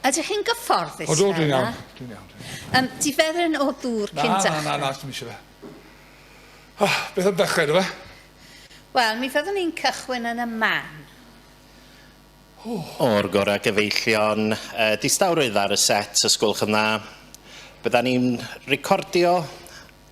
Ydych chi'n gyfforddus? O, dwi'n iawn. Dwi'n iawn. Dwi'n iawn. Um, di fedryn o ddŵr cyn dechrau? Na, na, na, dwi'n eisiau fe. Oh, beth am dechrau, dwi fe? Wel, mi fyddwn ni'n cychwyn yn y man. O'r gorau gyfeillion, uh, distawrwydd ar y set, ysgwlch yn dda. Bydda ni'n recordio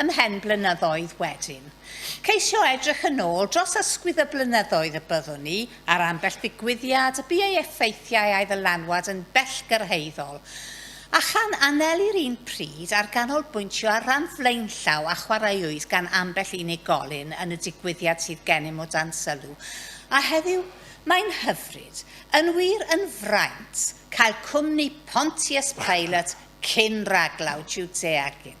Ymhen blynyddoedd wedyn. Ceisio edrych yn ôl dros ysgwydd y blynyddoedd y byddwn ni ar ambell ddigwyddiad y bu ei effeithiau a'i ddylanwad yn bellgyrhaeddol, a chan anelu'r un pryd ar ganolbwyntio ar ran flaenllaw a chwaraewyd gan ambell unigolyn yn y digwyddiad sydd gennym o dan sylw, a heddiw, mae'n hyfryd, yn wir, yn fraint, cael cwmni Pontius Pilate cyn raglaw Jwdea gin.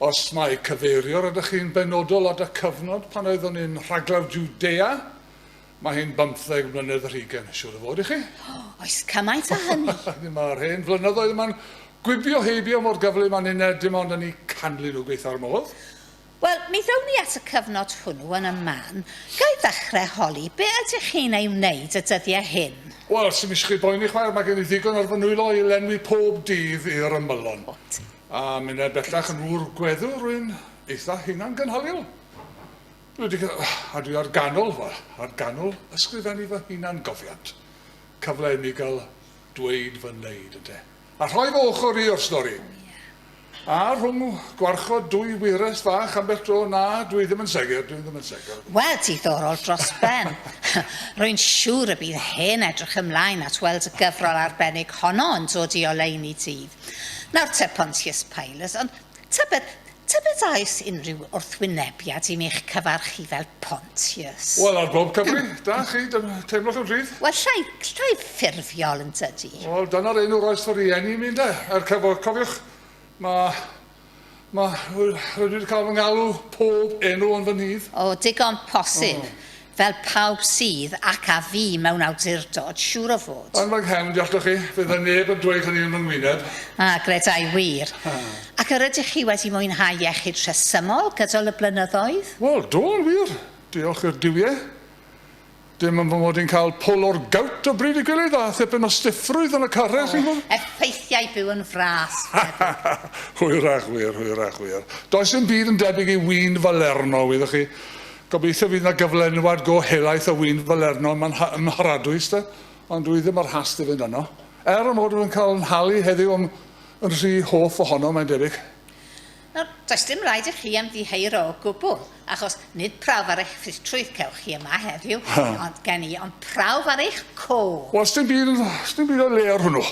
Os mai cyfeiriwr ydych chi'n benodol at y cyfnod pan oeddwn i'n rhaglawr Jwdea, mae hi'n bymtheg mlynedd yr hugain, siŵr o fod i chi. O, oes cymaint â hynny? Dim ar hen flynyddoedd yma'n gwibio heibio mor gyflym â ninne dim ond yn 'u canlyn nhw gweithio'r modd. Wel, mi ddown ni at y cyfnod hwnnw yn y man. Ga i ddechrau holi, be ydych chi'n ei wneud y dyddiau hyn? Wel, 'sdim isio chi boeni chwaer, mae gen i ddigon ar fy nwylo i lenwi pob dydd i'r ymylon. A minnau bellach yn ŵr gweddw, rwy'n eitha hunangynhaliol. Dwi wedi cael... a dwi ar ganol, wel, ar ganol ysgrifennu fy hunan gofiant. Cyfle i mi gael dweud fy neud, ynte. A rhoi fy ochr i o'r stori. A rhwng gwarchod dwy wyres fach ambell dro, na, dwi ddim yn segur, dwi ddim yn segur. Wel, diddorol dros ben. Rwy'n siŵr y bydd hen edrych ymlaen at weld y gyfrol arbennig honno yn dod i oleuni dydd. Nawr te, Pontius Pilus, ond tybed, tybed a oes unrhyw wrthwynebiad i mi eich cyfarch chi fel Pontius? Wel, ar bob cyfri, da chi, dim, teimlwch yn rhydd. Wel, llai, llai ffurfiol, yn tydi? Wel, dyna'r enw roes fy rhieni i mi, ynde, er cyfo, cofiwch, mae Ma, rydw i wedi cael fy ngalw pob enw ond fy nydd. O, digon posib, fel pawb sydd, ac a fu, mewn awdurdod, siŵr o fod. Yn fy nghefn, deallwch chi, fe fydde neb yn dweud hynny yn fy ngwyneb. A, credai wir. Ac yr ydych chi wedi mwynhau iechyd rhesymol gydol y blynyddoedd? Wel, do, yn wir. Diolch i'r Duwie. Dim am fy mod i'n cael pull o'r gout o bryd y gilydd a thipyn o stiffrwydd yn y carreg, chi'n gwybod? Effeithiau byw yn fras, meddyg. Hwyrach wir, hwyrach wir. Does dim byd yn debyg i win falerno, wyddoch chi. Gobeithio fydd yna gyflenwad go helaeth o win falerno yma yn Mha- ym Mharadwys, de, ond dwi ddim ar hast i fynd yno. Er fy mod i'n cael 'yn nhalu heddiw am yn rhy hoff ohono, mae'n debyg. Nawr, does dim rhaid i chi ymddiheuro o gwbl, achos nid prawf ar eich ffitrwydd cewch chi yma heddiw, ond gen i, ond prawf ar eich co. Wel, sdim byd, sdim byd o'i le ar hwnnw.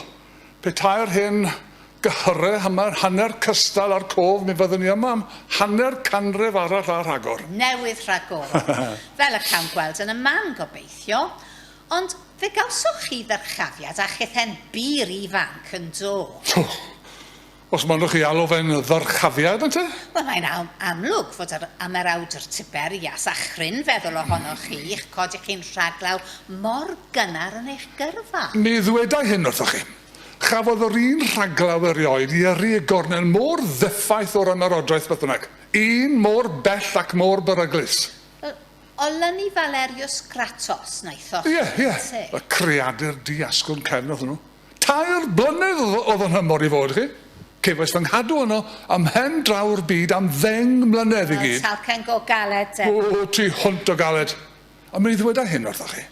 Petai'r hen gyhyre yma'n hanner cystal â'r cof, mi fyddwn ni yma am hanner canrif arall a rhagor. Newydd rhagor, fel y cawn gweld yn y man, gobeithio. Ond fe gawsoch chi ddyrchafiad a chithen bur ifanc, yn do? Os mynnwch chi alw fe'n ddyrchafiad, ynte? Wel, mae'n am amlwg fod yr ymerawdwr Tiber ias a chrin feddwl ohonoch chi, i'ch cod i chi'n rhaglaw mor gynnar yn eich gyrfa. Mi ddwedai hyn wrthoch chi. Chafodd yr un rhaglaw erioed i yrru y gornel mor ddeffaith o'r ymerodraeth, beth bynnag. Un mor bell ac mor beryglus. Wel, olynu Valerius Gratos, wnaethoch chi, ynte? Ie, ie, y creadur di-asgwrn cefn oedd hwnnw. Tair blynedd oedd yn nhymor i fod chi. Cefais fy nghadw yno ym mhen draw'r byd am ddeng mlynedd i gyd. Roedd talcen go galed 'de. O, tu hwnt o galed. Ond mi ddweda hyn wrthoch chi,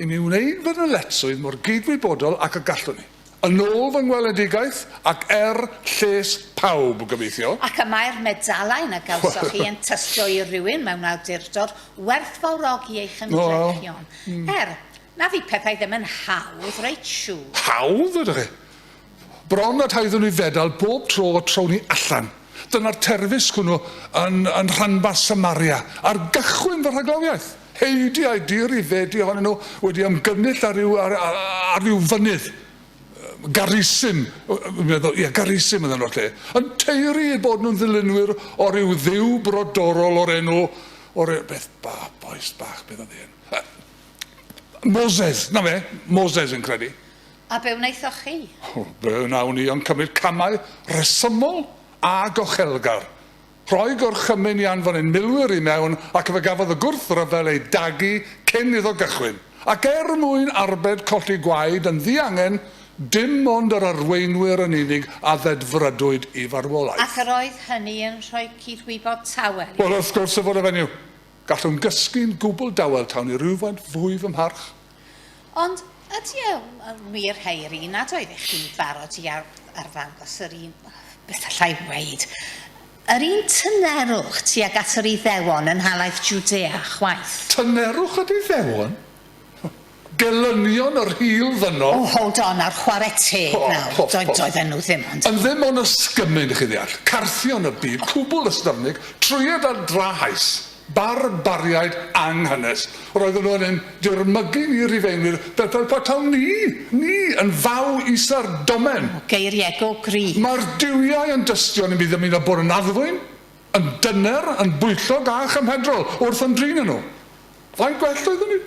i mi wneud fy nyletswydd mor gydwybodol ac y gallwn ni. Yn ôl fy ngweledigaeth, ac er lles pawb, gobeithio. Ac y mae'r medalau na gawsoch chi yn tystio i rywun mewn awdurdod werthfawrogi ei chymdrechion, er, Na fydd pethau ddim yn hawdd, reit siŵr. Hawdd ydych chi. Bron a taeddwn i fedal bob tro y trown ni allan. Dyna'r terfysg hwnnw yn, yn rhanbarth Samaria, ar gychwyn fy rhaglawiaeth. Heidi a'i dir i fedi ohonyn nhw wedi ymgynnull ar ryw, ar, ar ryw fynydd. Garisim, meddwl, ie, Garisim oedd enw'r lle, yn teiri eu bod nhw'n ddilynwyr o ryw dduw brodorol o'r enw, o'r e- beth ba, bois bach, beth oedd hyn? Moses, na fe, Moses yn credu. A be wnaethoch chi? O, be wnawn ni ond cymryd camau rhesymol a gochelgar. Rhoi gorchymyn i anfon ein milwyr i mewn ac fe gafodd y gwrthryfel ei dagu cyn iddo gychwyn. Ac er mwyn arbed colli gwaed yn ddiangen, dim ond yr arweinwyr yn unig a ddedfrydwyd i farwolaeth. Ac yr oedd hynny yn rhoi cudd-wybod tawel i chi? Wel, wrth gwrs y fod y fenyw. Gallwn gysgu'n gwbl dawel tawn i rywfaint fwy fy mharch. Ond ydy e yn wir Hairi nad oeddech chi'n barod i arddangos yr un, beth allai weud, yr un tynerwch tuag at yr Iddewon yn nhalaith Jwdea chwaith? Tynerwch yr Iddewon? Gelynion yr hil ddynol. Oh hold on nawr chware teg nawr, doedd, doedden nhw ddim ond. Yn ddim ond ysgymyn chi'n ddeall, carthion y byd, cwbl ystyfnig, trwyed a drahaus, barbariaid anghynnes, roedden nhw yn ein dirmygu ni Rhufeinwyr fel fel patawn ni, ni, yn faw isa'r domen. O, geiriego gry. Mae'r duwiau yn dystion i mi ddymuno bod yn addfwyn, yn dyner, yn bwyllog a chymhedrol wrth ymdrin â nhw. Faint gwell oeddwn i?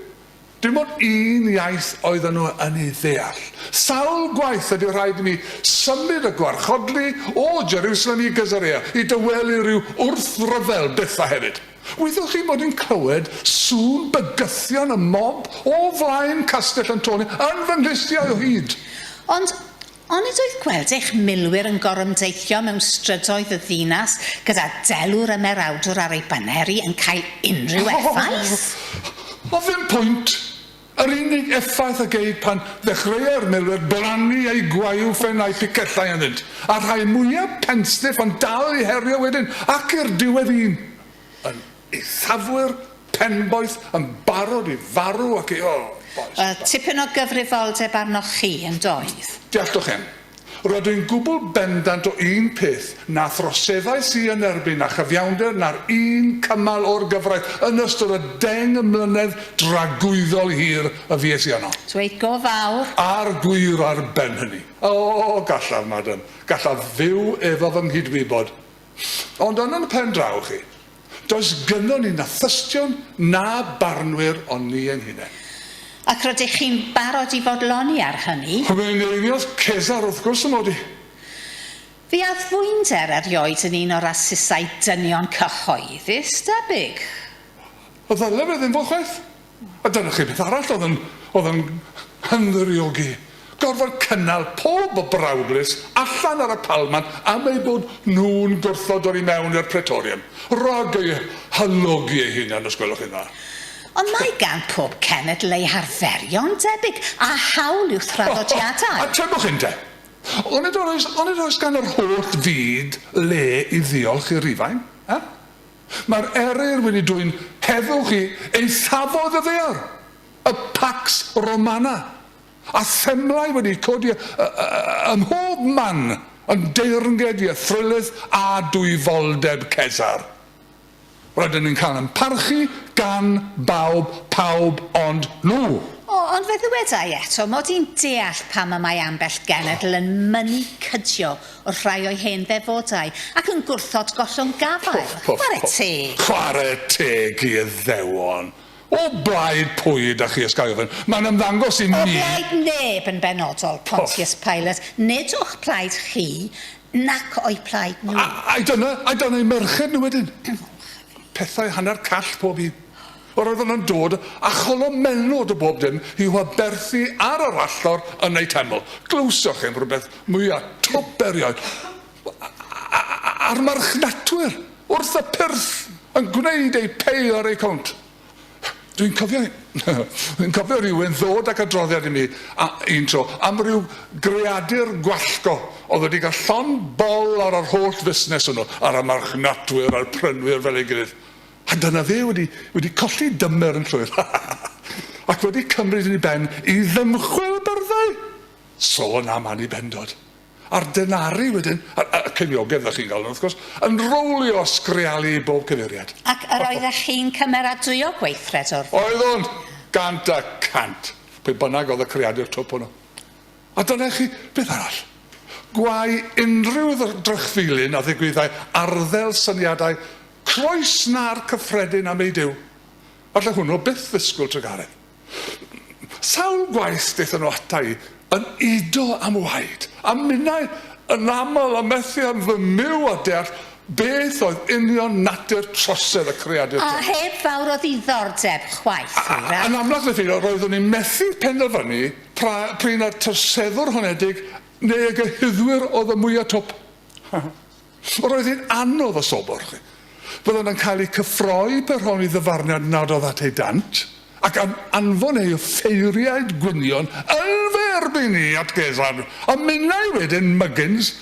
Dim ond un iaith oedden nhw yn ei ddeall. Sawl gwaith y bu rhaid i mi symud a gwarchodlu o Jerusalem i Gaesarea i dawelu rhyw wrthryfel Bethau hefyd. Wyddoch chi bod i'n clywed sŵn bygythion y mob o flaen Castell Antonio yn fy nghlustiau o hyd? Ond Onid oedd gweld eich milwyr yn gorymdeithio mewn strydoedd y ddinas gyda delw'r ymerawdwr ar ei baneri yn cael unrhyw effaith? O, ddim pwynt! Yr unig effaith a gei pan ddechreuai'r milwyr blannu eu gwaew ffen a'u picellau ynddynt, a rhai mwyaf penstiff ond dal i herio wedyn, ac i'r diwedd un yn Eithafwyr Penboeth yn barod i farw ac i, o, bois, Wel, da. tipyn o gyfrifoldeb arnoch chi, yn doedd? Dealltwchem. Rydw i'n gwbl bendant o un peth, na throseddais i yn erbyn na chyfiawnder na'r un cymal o'r gyfraith yn ystod y deng mlynedd dragwyddol hir y fues i yno. Dweud go fawr. A'r gwir ar ben hynny. O, gallaf, madam, gallaf fyw efo fy nghydwybod, Ond yn yn pen draw chi, does gynnon ni na thystion na barnwyr ond ni ein hunain. Ac rydych chi'n barod i fodloni ar hynny? Fe enilliodd Cesar wrth gwrs y mod i. Fe addfwynder erioed yn un o rasysau dynion cyhoeddus, debyg. Ddyle fe ddim fod chwaith. A dyna chi beth arall oedd yn, oedd yn hymddiriwgu. Gorfod cynnal pob o brawdlys allan ar y palmant am eu bod nhw'n gwrthod dod i mewn i'r Praetorium. Rhag eu halogi eu hunain, os gwelwch chi'n dda. Ond mae gan pob cenedl ei harferion debyg, a hawl i'w thraddodiadau. O, o, atebwch hyn te. Onid oes, onid oes gan yr holl fyd le i ddiolch i Rufain? Eh? Mae'r eryr wedi dwyn heddwch i eithafoedd y ddaear, y Pax Romana, a themlau wedi codi ym mhob man yn deyrnged i athrylith a dwyfoldeb Cesar. Rydyn ni'n cael ein parchu gan bawb, pawb ond nhw. O, ond fe ddyweda i eto mod i'n deall pam y mae ambell genedl yn mynnu cydio o'r rhai o'i hen ddefodau, ac yn gwrthod gollwng gafael. Chware teg! Chware teg i Iddewon! O blaid pwy ydach chi, os ga i ofyn? Mae'n ymddangos i mi... O blaid neb yn benodol, Pontius Pilate, nid o'ch plaid chi, nac o'u plaid nhw. A, ai dyna, ai dyna eu merched nhw wedyn? Pethau hanner call pob un. Yr oeddwn yn dod a cholo melod o bob dim i'w aberthu ar yr allor yn eu teml. Glywsoch chi'm rhywbeth mwya' twp erioed? A'r marchnatwyr wrth y pyrth yn gwneud eu pay ar eu cownt. Dwi'n cofio dwi'n cofio rhywun ddod ac adroddiad i mi a, un tro am ryw greadur gwallgo oedd wedi cael llond bol ar yr holl fusnes hwnnw, ar y marchnatwyr a'r prynwyr fel ei gilydd. A dyna fe wedi, wedi colli dymer yn llwyr, ha ha ha, ac wedi cymryd yn ei ben i ddymchwel y byrddau! Sôn am Annibendod! A'r denari wedyn, a, a, y ceiniogedd fel chi'n galw nhw wrth gwrs, yn rowlio a sgrealu i bob cyfeiriad. Ac yr oeddech chi'n cymeradwyo gweithred o'r fath? Oeddwn! Gant y cant! Pwy bynnag oedd y creadur twp hwnnw. A dyna i chi beth arall. Gwae unrhyw ddrychfilyn a ddigwyddai arddel syniadau Cloes na'r cyffredin am ei Duw. Falle hwnnw byth ddisgwyl Tregareth. Sawl gwaith daethon nhw ata i yn udo am waed, a minnau yn aml y methion fy myw a deall beth oedd union natur trosedd y creadur tonyn. A heb fawr o ddiddordeb chwaith, hwyrach. Yn amlach na pheidio, roeddwn i'n methu penderfynu pra, p'run y troseddwr honedig neu y gyhuddwyr oedd y mwya twp. Yr oedd hi'n anodd y sobor. Byddant yn cael eu cyffroi pe rhown i ddyfarniad nad oedd at eu dant, ac am anfon eu ffeiriaid gwynion yn fy erbyn i at Gesarn, a minnau wedyn Muggins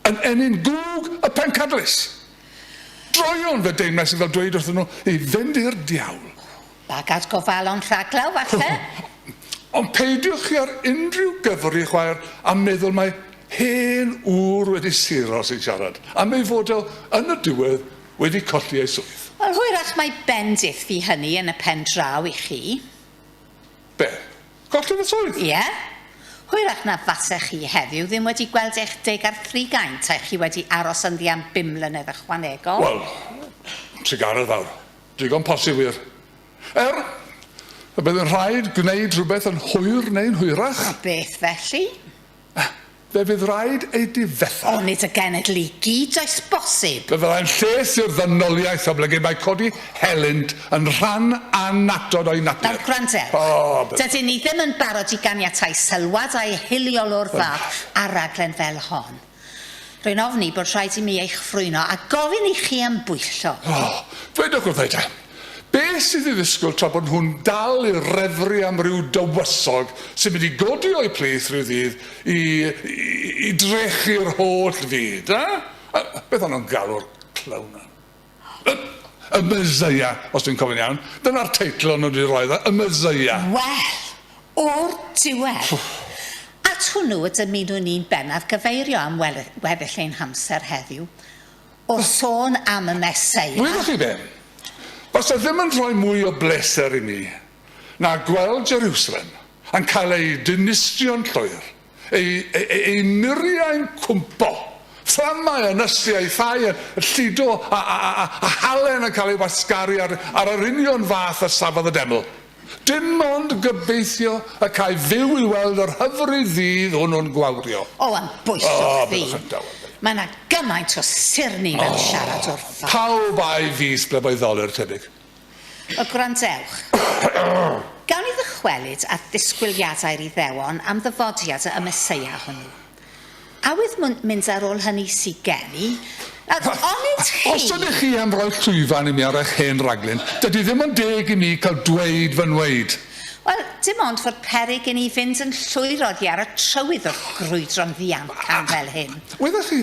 yn ennyn gwg y pencadlys. Droion, fe deimlais i fel dweud wrthyn nhw i fynd i'r diawl. Bagad gofalon rhaglaw, falle? Ond peidiwch chi ar unrhyw gyfr i chwaer a meddwl mae hen ŵr wedi sero sy'n siarad, am ei fod o yn y diwedd wedi colli ei swydd. Wel, hwyrach mai bendith fu hynny yn y pen draw i chi. Be? Colli fy swydd? Ie. Hwyrach na fasech chi heddiw ddim wedi gweld eich deg ar thrigain taech chi wedi aros ynddi am bum mlynedd ychwanegol. Wel, trugaredd fawr. Digon posib wir. Er, y bydd yn rhaid gwneud rhywbeth yn hwyr neu'n hwyrach. A beth felly? Fe fydd raid ei difetha. O, nid y genedl i gyd, oes bosib? Fe fyddai'n lles i'r ddynoliaeth oblygu mae codi helynt yn rhan annatod o'i natur. Nawr gwrandewch. O, beth. Dydyn ni ddim yn barod i ganiatáu sylwad a ehiliol o'r fath ar raglen fel hon. Rwy'n ofni bod rhaid i mi eich ffrwyno a gofyn i chi am bwyllo. O, dwedwch wrtha i te, beth sydd i ddisgwyl tra bod nhw'n dal i refru am ryw dywysog sy'n mynd i godi o'u plith ryw ddydd i, i, i drechu'r holl fyd, eh? Beth o'n nhw'n galw'r clown hwn? Y, y Meseia, os dwi'n cofio'n iawn. Dyna'r teitl o'n nhw wedi roi iddo, Y Meseia. Wel, o'r diwedd! At hwnnw y dymunwn ni'n bennaf gyfeirio am wel- weddill ein hamser heddiw, wrth sôn am y Meseia. Gwyddoch chi be? Fasa ddim yn rhoi mwy o bleser i mi na gweld Jerwsalem yn cael ei dinistrio'n llwyr. Ei, ei, ei, ei muriau'n cwmpo. Fflamau a nysiaethau yn llido a, a, a, a, a halen yn cael ei wasgaru ar, ar yr union fath a safodd y deml. Dim ond gobeithio y cae fyw i weld yr hyfryd ddydd hwnnw'n gwawrio. O, am bwyso oh, chdi. Mae yna gymaint o sirni mewn oh, siarad wrtho. Pawb a'i fis bleboedd ddolur, tebyg. y gwrandewch. Gawn ni ddychwelyd at ddisgwyliadau'r Iddewon am ddyfodiad y Meseia hwnnw? A wyf mwn mynd ar ôl hynny sy gen i? Nawr, onid chi... Os ydych chi am roi llwyfan i mi ar eich hen raglen, dydy ddim yn deg i mi cael dweud fy nhweud. Wel, dim ond fod peryg i ni fynd yn llwyr oddi ar y trywydd wrth grwydro'n ddiamcan fel hyn. Wyddoch chi,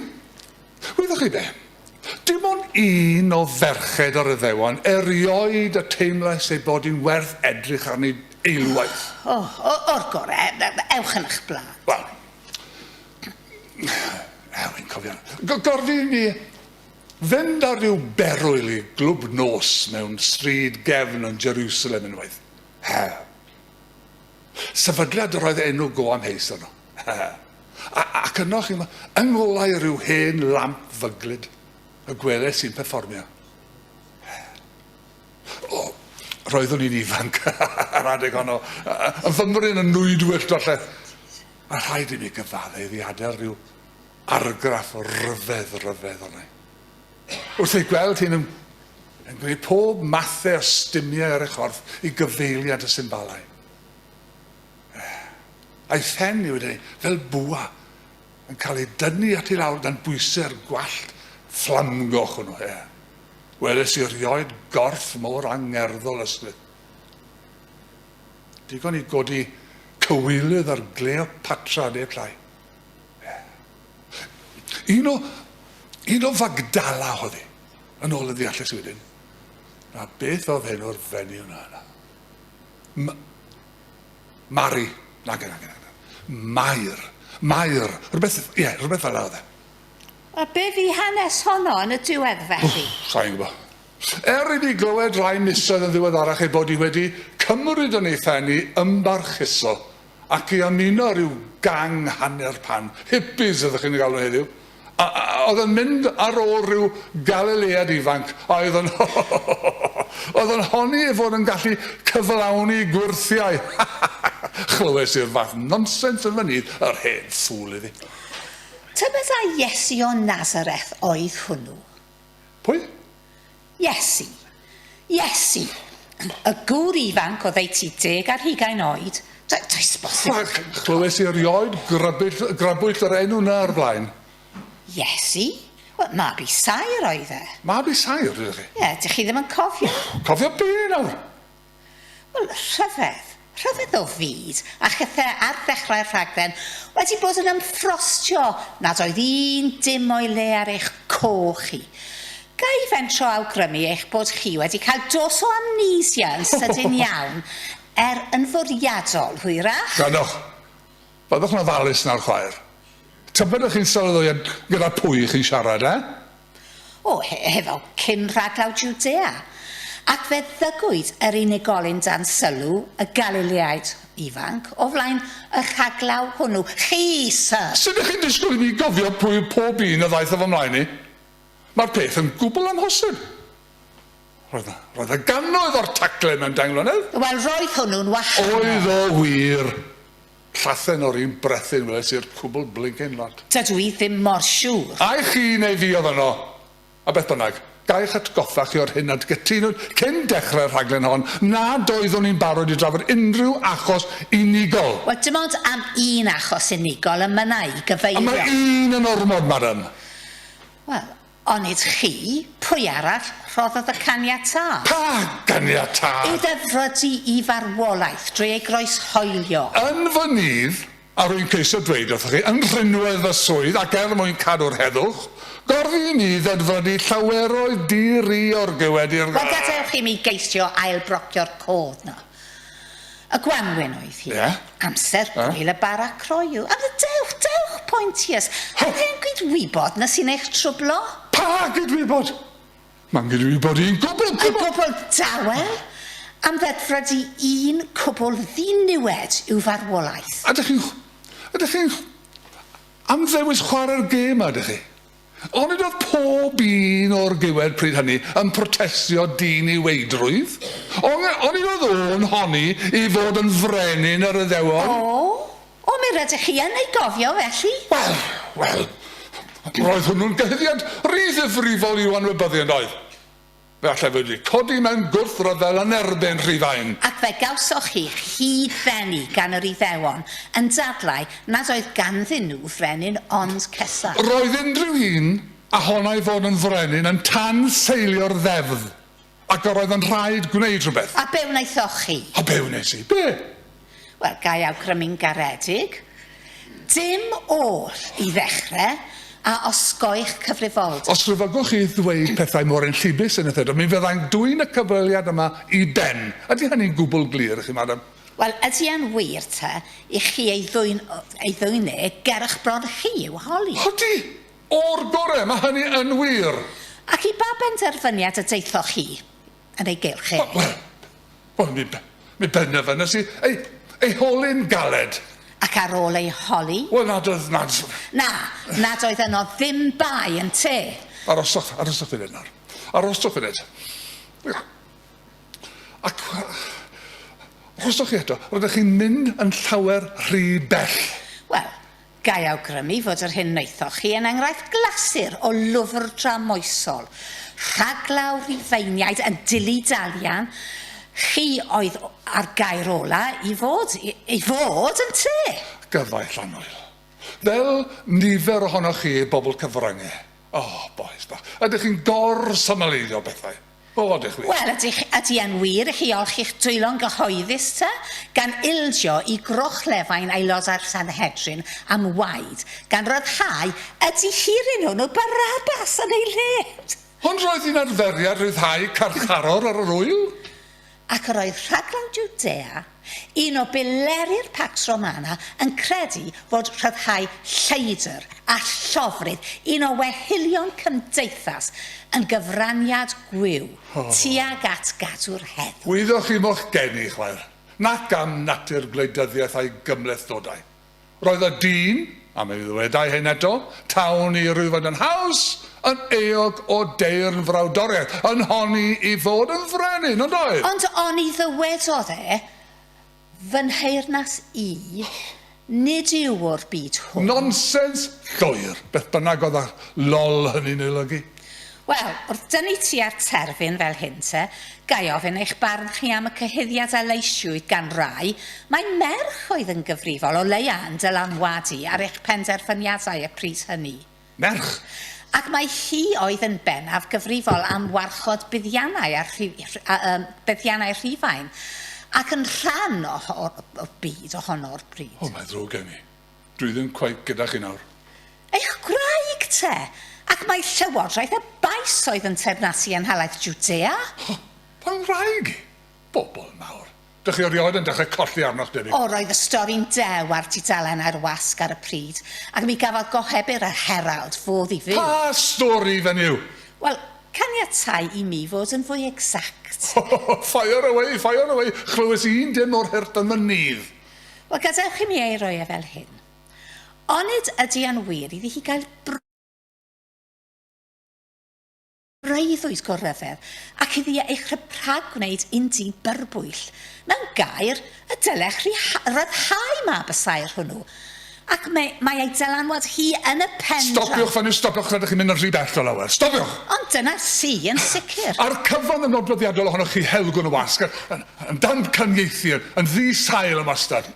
Wyddoch chi be? Dim ond un o ferched yr Iddewon erioed y teimlais ei bod hi'n werth edrych arni eilwaith. O, o, o'r gore', ewch yn 'ych bla. Wel, er wi'n cofio, go- gorfu i mi fynd ar ryw berwyl i glwb nos mewn stryd gefn yn Jerusalem unwaith. Her. Sefydliad yr oedd enw go amheus arno. A, ac yno chi, yng ngolau rhyw hen lamp fyglyd, y gwelais i'n perfformio. O, roeddwn i'n ifanc ar adeg honno, yn fymryn yn nwy dwyllt falle. A rhaid i mi gyfadde iddi adael rhyw argraff o ryfedd ryfedd onai. Wrth ei gweld hyn yn yn gwneud pob mathe o stumiau ar ei chorff i gyfeiliant y symbalau. A'i phen i wedi fel bwa yn cael ei dynnu at ei lawr gan bwysau'r gwallt fflamgoch hwnnw. E. Weles i rioed gorff mor angerddol ysglyth. Digon i godi cywilydd ar Gleopatra neu Clai. Un o, un o Fagdala oedd hi, yn ôl y ddeallus wedyn. A beth oedd enw'r fenni yna yna? M Mari. Nag yna, nag yna. Mair. Mair. Rhywbeth, ie, yeah, rhywbeth fel yna oedd e. A be fi hanes honno yn y diwedd felly? Sa'n gwybod. Er i ni glywed rai misoedd yn ddiweddarach ei bod hi wedi cymryd yn ei phen i ymbarchuso Ac i ymuno rhyw gang hanner pan, hippies ydych chi'n eu galw heddiw, a oedd yn mynd ar ôl rhyw Galilead ifanc a oedd yn oedd yn honni ei fod yn gallu cyflawni gwyrthiau. Chlywes i'r fath nonsens yn fy nydd, yr hen ffŵl iddi. Tybed ai Iesu o Nazareth oedd hwnnw? Pwy? Iesu. Iesu. Y gŵr ifanc oddeutu deg ar hugain oed. Do, does bosib bod yn... Ffwc! Clywes i erioed grybwyll, grybwyll yr enw na o'r blaen. Iesu? Wel, mab i Saer oedd e. Mab i Saer, ydych chi? Ie, dych chi ddim yn cofio? Cofio be nawr? Wel, rhyfedd. Rhyfedd o fyd, a chethe ar ddechrau'r rhaglen wedi bod yn ymffrostio nad oedd un dim o'i le ar eich coch chi. Ga i fentro awgrymu eich bod chi wedi cael dos o amnesia yn sydyn iawn, er yn fwriadol, hwyrach? Gallwch. Byddwch yn ofalus nawr chwaer. Tybed ych chi'n sylweddoliad gyda pwy chi'n siarad, eh? O, he, hefo cyn rhaglaw Jwdea. Ac fe ddygwyd yr unigolyn dan sylw, y Galileaid ifanc, o flaen y rhaglaw hwnnw. Chi, syr! Sut ych chi'n disgwyl i mi gofio pwy yw pob un a ddaeth o fy mlaen i? Mae'r peth yn gwbl amhosib. Roedd, roedd y gannoedd o'r taglen mewn dair mlynedd! Wel, roedd hwnnw'n wahanol. Oedd o wir! Llathen o'r un brethyn weles i'r cwbl blincin lot. Dydw i ddim mor siŵr. Ai chi neu fi oedd yno? A beth bynnag, ga i eich atgoffa chi o'r hyn nad gytunwyd cyn dechrau'r rhaglen hon nad oeddwn i'n barod i drafod unrhyw achos unigol. Wel, dim ond am un achos unigol, y mynna i gyfeirio. A mae un yn ormod, madam. Wel, Onid chi? Pwy arall rhoddodd y caniatâd? Pa ganiatâd? Iddo frodi i farwolaeth drwy ei groeshoelio. Yn fy nydd, a rwy'n ceisio dweud wrthoch chi, yn rhinwedd fy swydd, ac er mwyn cadw'r heddwch, gorfu i mi ddedfrydu llaweroedd di-ri o'r gewedir. Wel, gadewch i mi geisio ail-brocio'r cof 'na. Y gwanwyn oedd hi. Ie. Amser Ie. gwyl y bara croyw. A mi dewch, dewch, Pointiers. Hynny yn gydwybod na sy'n eich trwblo. Pa gydwybod? Mae'n gydwybod un cwbl, cwbl! Yn gwbl dawel? Am ddedfryd i un cwbl ddiniwed yw farwolaeth. Ydych chi'n chw- ydych chi'n chw- am ddewis chwarae'r gêm 'ma, ydych chi? Onid oedd pob un o'r giwed pryd hynny yn protestio diniweidrwydd? Onge- onid oedd o'n honni i fod yn frenin yr Iddewon? O! O, mi rydych chi yn ei gofio, felly? Wel, wel, roedd hwnnw'n gyhuddiad ry ddifrifol i'w anwybyddu, yn doedd? Fe allaf wedi codi mewn gwrthryfel yn erbyn Rhufain. Ac fe gawsoch chi'ch hyd-fennu gan yr Iddewon, yn dadlau nad oedd ganddyn nhw frenin ond Cesar. Roedd unrhyw un a honai fod yn frenin yn tanseilio'r ddeddf, ac yr oedd yn rhaid gwneud rhywbeth. A be wnaethoch chi? A be wnes i? Be? Wel, ga i awgrymu'n garedig, dim oll i ddechrau, a osgoi'ch cyfrifoldeb. Os rhyfyggwch chi ddweud pethau mor enllibus yn y ffedog, mi fyddai'n dwyn y cyfweliad yma i ben. Ydy hynny'n gwbl glir i chi, madam? Wel, ydy e'n wir, ta, i chi ei ddwyn, ei ddwyn e ger y'ch bron chi i'w holi? Ydy! O'r gorau, mae hynny yn wir! Ac i ba benderfyniad y daethoch chi? yn ei gylch e. Wel, wel, wel, mi, mi benderfynais i ei, ei holi'n galed. Ac ar ôl ei holi? Wel, nad oedd, nad... Na, nad oedd yno ddim bai yn te. Aroswch, aroswch funud nawr. Aroswch funud. Ac... Aroswch chi eto, rydych chi'n mynd yn llawer rhy bell. Wel, Ga i awgrymu fod yr hyn wnaethoch chi yn enghraifft glasur o lwfr dramoesol, rhaglaw Rhufeiniaid yn dillu Dalian, chi oedd â'r gair ola' i fod, i fod, ynte? Gyfaill annwyl. Fel nifer ohonoch chi, bobl cyfrynge. O, bois bach, ydych chi'n gor-symleiddio pethau! Bob lwc i chwi. Wel, ydych, ydy e'n wir i chi olchi'ch dwylo'n gyhoeddus te, gan ildio i grochlefain Aelodau'r Sanhedrin am waed, gan ryddhau y dihiryn hwnnw, Barabbas, yn ei le? Ond roedd hi'n arferiad rhyddhau carcharor ar yr ŵyl. ac yr oedd rhaglen Jwdea, un o bileri'r Pax Romana, yn credu fod rhyddhau lleidr a llofrudd un o wehillion cymdeithas yn gyfraniad gwyw tuag at gadw'r heddwch. Wyddoch chi mo'ch geni, chwaer, nac am natur gwleidyddiaeth a'i gymhlethdodau. Roedd y dyn, a mi ddywedai hyn eto, tawn i Rhufain yn haws, yn euog o deyrn frawdoriaeth, yn honni i fod yn frenin, ond oedd. Ond oni ddywedodd e, Fy nheyrnas i, nid yw o'r byd hwn. Nonsens llwyr, beth bynnag oedd y 'lol' hynny'n ei olygu. Wel, wrth dynnu tua'r terfyn fel hyn te, ga i ofyn eich barn chi am y cyhuddiad a leisiwyd gan rai mai merch oedd yn gyfrifol, o leia' yn dylanwadu ar eich penderfyniadau y pryd hynny? Merch! Ac mai hi oedd yn bennaf gyfrifol am warchod buddiannau a rhi- rh- a, yym, buddiannau Rhufain, ac yn rhan o ho- o, o, o byd ohono o'r pryd. O, mae'n ddrwg gen i. Dwi ddim cweit gyda chi nawr. Eich gwraig te, ac mai llywodraeth y Baes oedd yn teyrnasu yn nhalaith Jwdea? Ho! Pa wraig? Bobl mawr! Dych chi erioed yn dechrau colli arnoch debyg. O, roedd y stori'n dew ar dudalennau'r wasg ar y pryd, ac mi gafodd gohebydd yr Herald fodd i fyw. Pa stori fenyw? Wel, caniatáu i mi fod yn fwy exact. Ho, ho, ho! Fire away, fire away! Chlywes i un dim o'r hurt yn fy nydd. Wel, gadewch i mi ei roi e fel hyn. Onid ydy e'n wir iddi hi gael breuddwyd go ryfedd, ac iddi e eich rhypragwneud un di byrbwyll? Mewn gair, y dylech ryddhau mab y saer hwnnw. Ac mae, mae ei dylanwad hi yn y pen draw. Stopiwch fan hyn, stopiwch, rydych chi'n mynd yn rhy bell o lawer. Stopiwch! Ond dyna sy, yn sicr. A'r cyfan yn nodweddiadol ohonoch chi helgwn y wasg, yn, yn, yn damcaniaethu, yn, yn ddi sail yn wastad.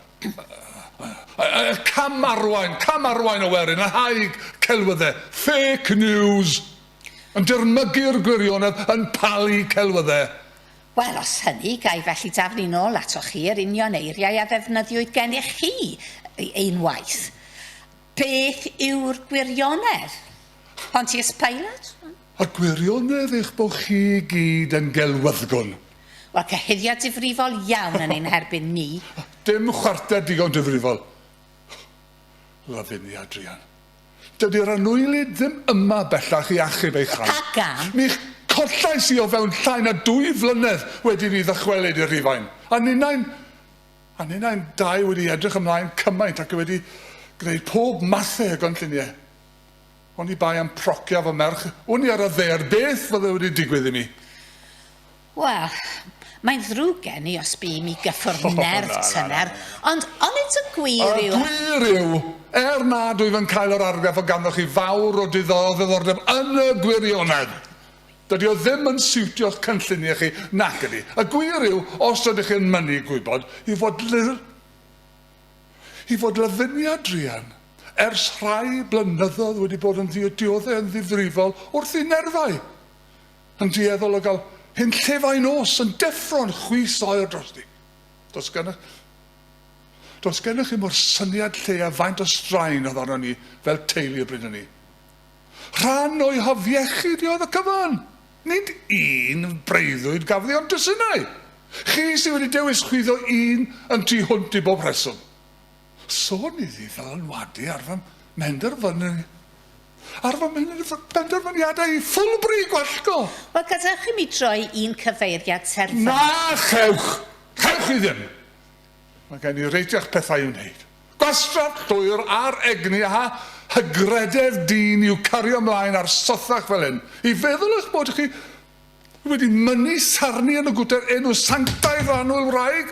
Y cam arwain, cam arwain o werin, yn haig celwyddau, fake news, yn dirmygu'r gwirionedd, yn palu celwyddau. Wel, os hynny, ga i felly daflu'n ôl atoch chi yr union eiriau a ddefnyddiwyd gennych chi unwaith? Beth yw'r gwirionedd? Pontius Pilate? Y gwirionedd eich bod chi i gyd yn gelwyddgwn. Wel, cyhuddiad difrifol iawn yn ein herbyn ni. Dim chwarter digon difrifol. Love in the Adrian. Dydy'r annwylyd ddim yma bellach i achub ei chael. Ac am? Mi chollais i o fewn llai na dwy flynedd wedi i fi ddychwelyd i Rufain, a ninnau'n a ninnau'n dau wedi edrych ymlaen cymaint ac wedi gwneud pob mathe o gynlluniau. Oni bai am procio fy merch, wn i ar y ddaear beth fydde wedi digwydd i mi. Wel, mae'n ddrwg gen i os bûm i gyffwrdd nerf tyner, ond onid y gwir yw... Y gwir yw, er nad wyf yn cael yr argraff o ganddoch chi fawr o ddiddordeb yn y gwirionedd, dydy o ddim yn siwtio'ch cynlluniau chi, nac ydy? Y gwir yw, os ydych chi yn mynnu gwybod, yw fod ly-, yw fod Lavinia druan ers rhai blynyddoedd wedi bod yn ddiodioddau yn ddifrifol wrth i nerfau Yn dueddol o gael hunllefau nos yn deffro'n chwys oer drosti. Does gennych, does gennych chi mo'r syniad lle a faint o straen oedd arno ni fel teulu y bryd hynny. Rhan o'i hafiechyd i oedd y cyfan. Nid un breuddwyd gafodd ei ond dwsinau. Chi sydd wedi dewis chwyddo un yn tu hwnt i bob rheswm. Sôn i ddiddylanwadu ar fy mhenderfynu- ar fy mhen- benderfyniadau i Fulbury, Gwallgo! Wel, gadewch i mi droi i'n cyfeiriad terfynol. Na, chewch! Chewch chi ddim! Mae gen i reiteach pethau i'w wneud. Gwastraff llwyr ar egni a hygrededd dyn yw cario ymlaen ar sothach fel hyn, i feddwl eich bod chi wedi mynnu sarni yn y gwter enw sanctaidd o annwyl wraig,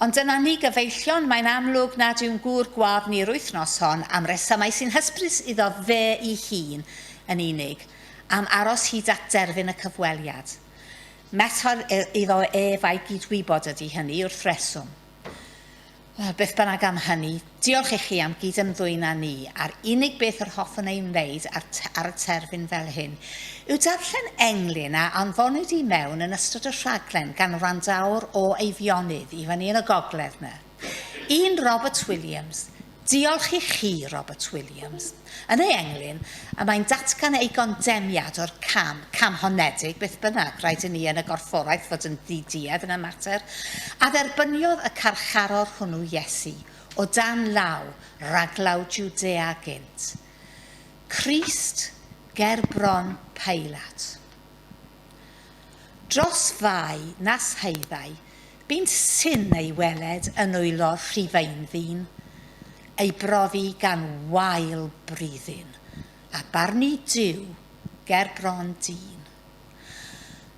Ond dyna ni gyfeillion, mae'n amlwg nad yw'n gŵr gwadd ni'r wythnos hon, am resymau sy'n hysbrys iddo fe'i hun yn unig, am aros hyd at derfyn y cyfweliad. Method iddo ef a'i gyd-wybod ydi hynny, wrth reswm. Beth bynnag am hynny, Diolch i chi am gyd-ymddwyn â ni, a'r unig beth yr hoffwn ei wneud ar, ar y terfyn fel hyn yw darllen englyn a anfonwyd i mewn yn ystod y rhaglen gan wrandawr o Eifionydd i fyny yn y gogledd 'na. Un Robert Williams. Diolch i chi, Robert Williams. Yn ei englyn, y mae'n datgan ei gondemniad o'r cam, cam honedig beth bynnag, rhaid i ni yn y gorfforaeth fod yn ddi-duedd yn y mater, a dderbyniodd y carcharor hwnnw Iesu, o dan law, raglaw Jwdea gynt. Crist ger bron Peilat. Dros fai nas haeddai bunt syn ei weled yn nwylo'r Rhufein ddyn, ei brofi gan wael bruddyn, a barnu Duw ger bron dyn.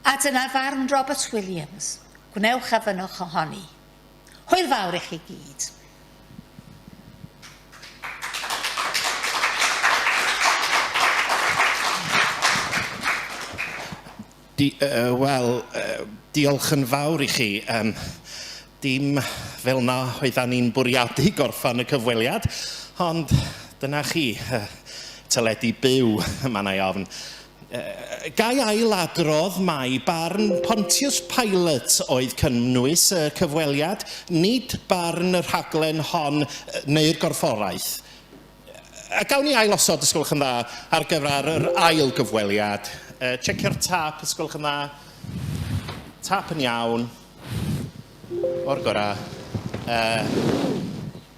A dyna farn Robert Williams, gwnewch a fynwch ohoni. Hwyl fawr i chi gyd. Di, uh, Wel, uh, diolch yn fawr i chi. Um, dim fel na oeddan ni'n bwriadu gorffan y cyfweliad, ond dyna chi, uh, teledu byw, mae yna ofn. Ga i ail-adrodd mai barn Pontius Pilate oedd cynnwys y cyfweliad, nid barn y rhaglen hon neu'r gorfforaeth. A gawn ni ail-osod, os gwelwch yn dda, ar gyfer yr ail gyfweliad? Tseccio'r tâp, os gwelwch yn dda. Tâp yn iawn. O'r gorau.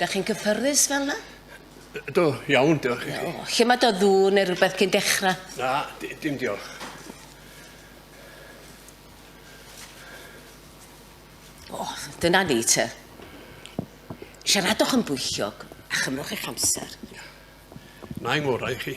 Da chi'n cyffyrddus fel yna? Do, iawn, diolch i chi. O, lle mae do ddŵ neu rhywbeth cyn dechrau? Na, dim diolch. O, dyna ni te. Siaradwch yn bwyllog a chymrwch eich amser. Na i ngorau i chi.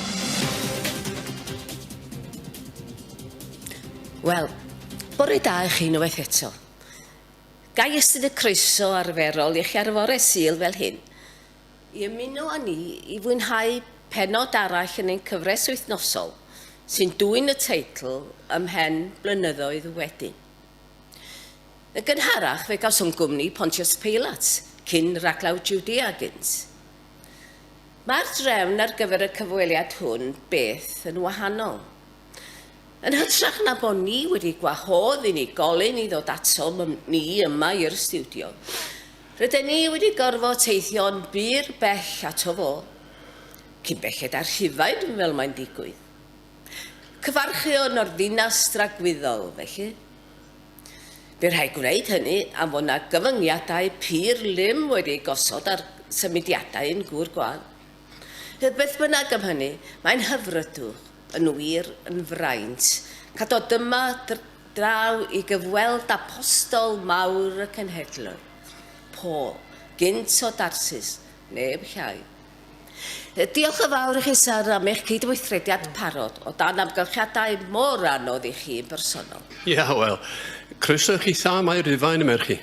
Wel, bore da i chi unwaith eto. Ga i ystod y croeso arferol i chi ar y fore Sul fel hyn i ymuno â ni i fwynhau pennod arall yn ein cyfres wythnosol sy'n dwyn y teitl Ymhen Blynyddoedd Wedyn. Yn gynharach fe gawsom gwmni Pontius Pilate, cyn raglaw Judea gynt. Mae'r drefn ar gyfer y cyfweliad hwn beth yn wahanol. Yn hytrach na bod ni wedi gwahodd unigolyn i ddod ato ni yma i'r stiwdio, rydyn ni wedi gorfod teithio'n bur bell ato fo, cyn belled â Rhufain fel mae'n digwydd. Cyfarchion o'r ddinas dragwyddol, felly. Bydd rhaid gwneud hynny am fod yna gyfyngiadau pur lym wedi eu gosod ar symudiadau yn gŵr gwael. Heb beth bynnag am hynny, mae'n hyfrydw, yn wir, yn fraint, cael dod yma draw i gyfweld apostol mawr y cenhedloedd, Paul, gynt o Darsus, neb llai. Diolch yn fawr i chi, Sir, am eich cydweithrediad parod o dan amgylchiadau mor anodd i chi yn bersonol. Ia, wel, croeso i chi Sam a'i Rufain, y merch-chi.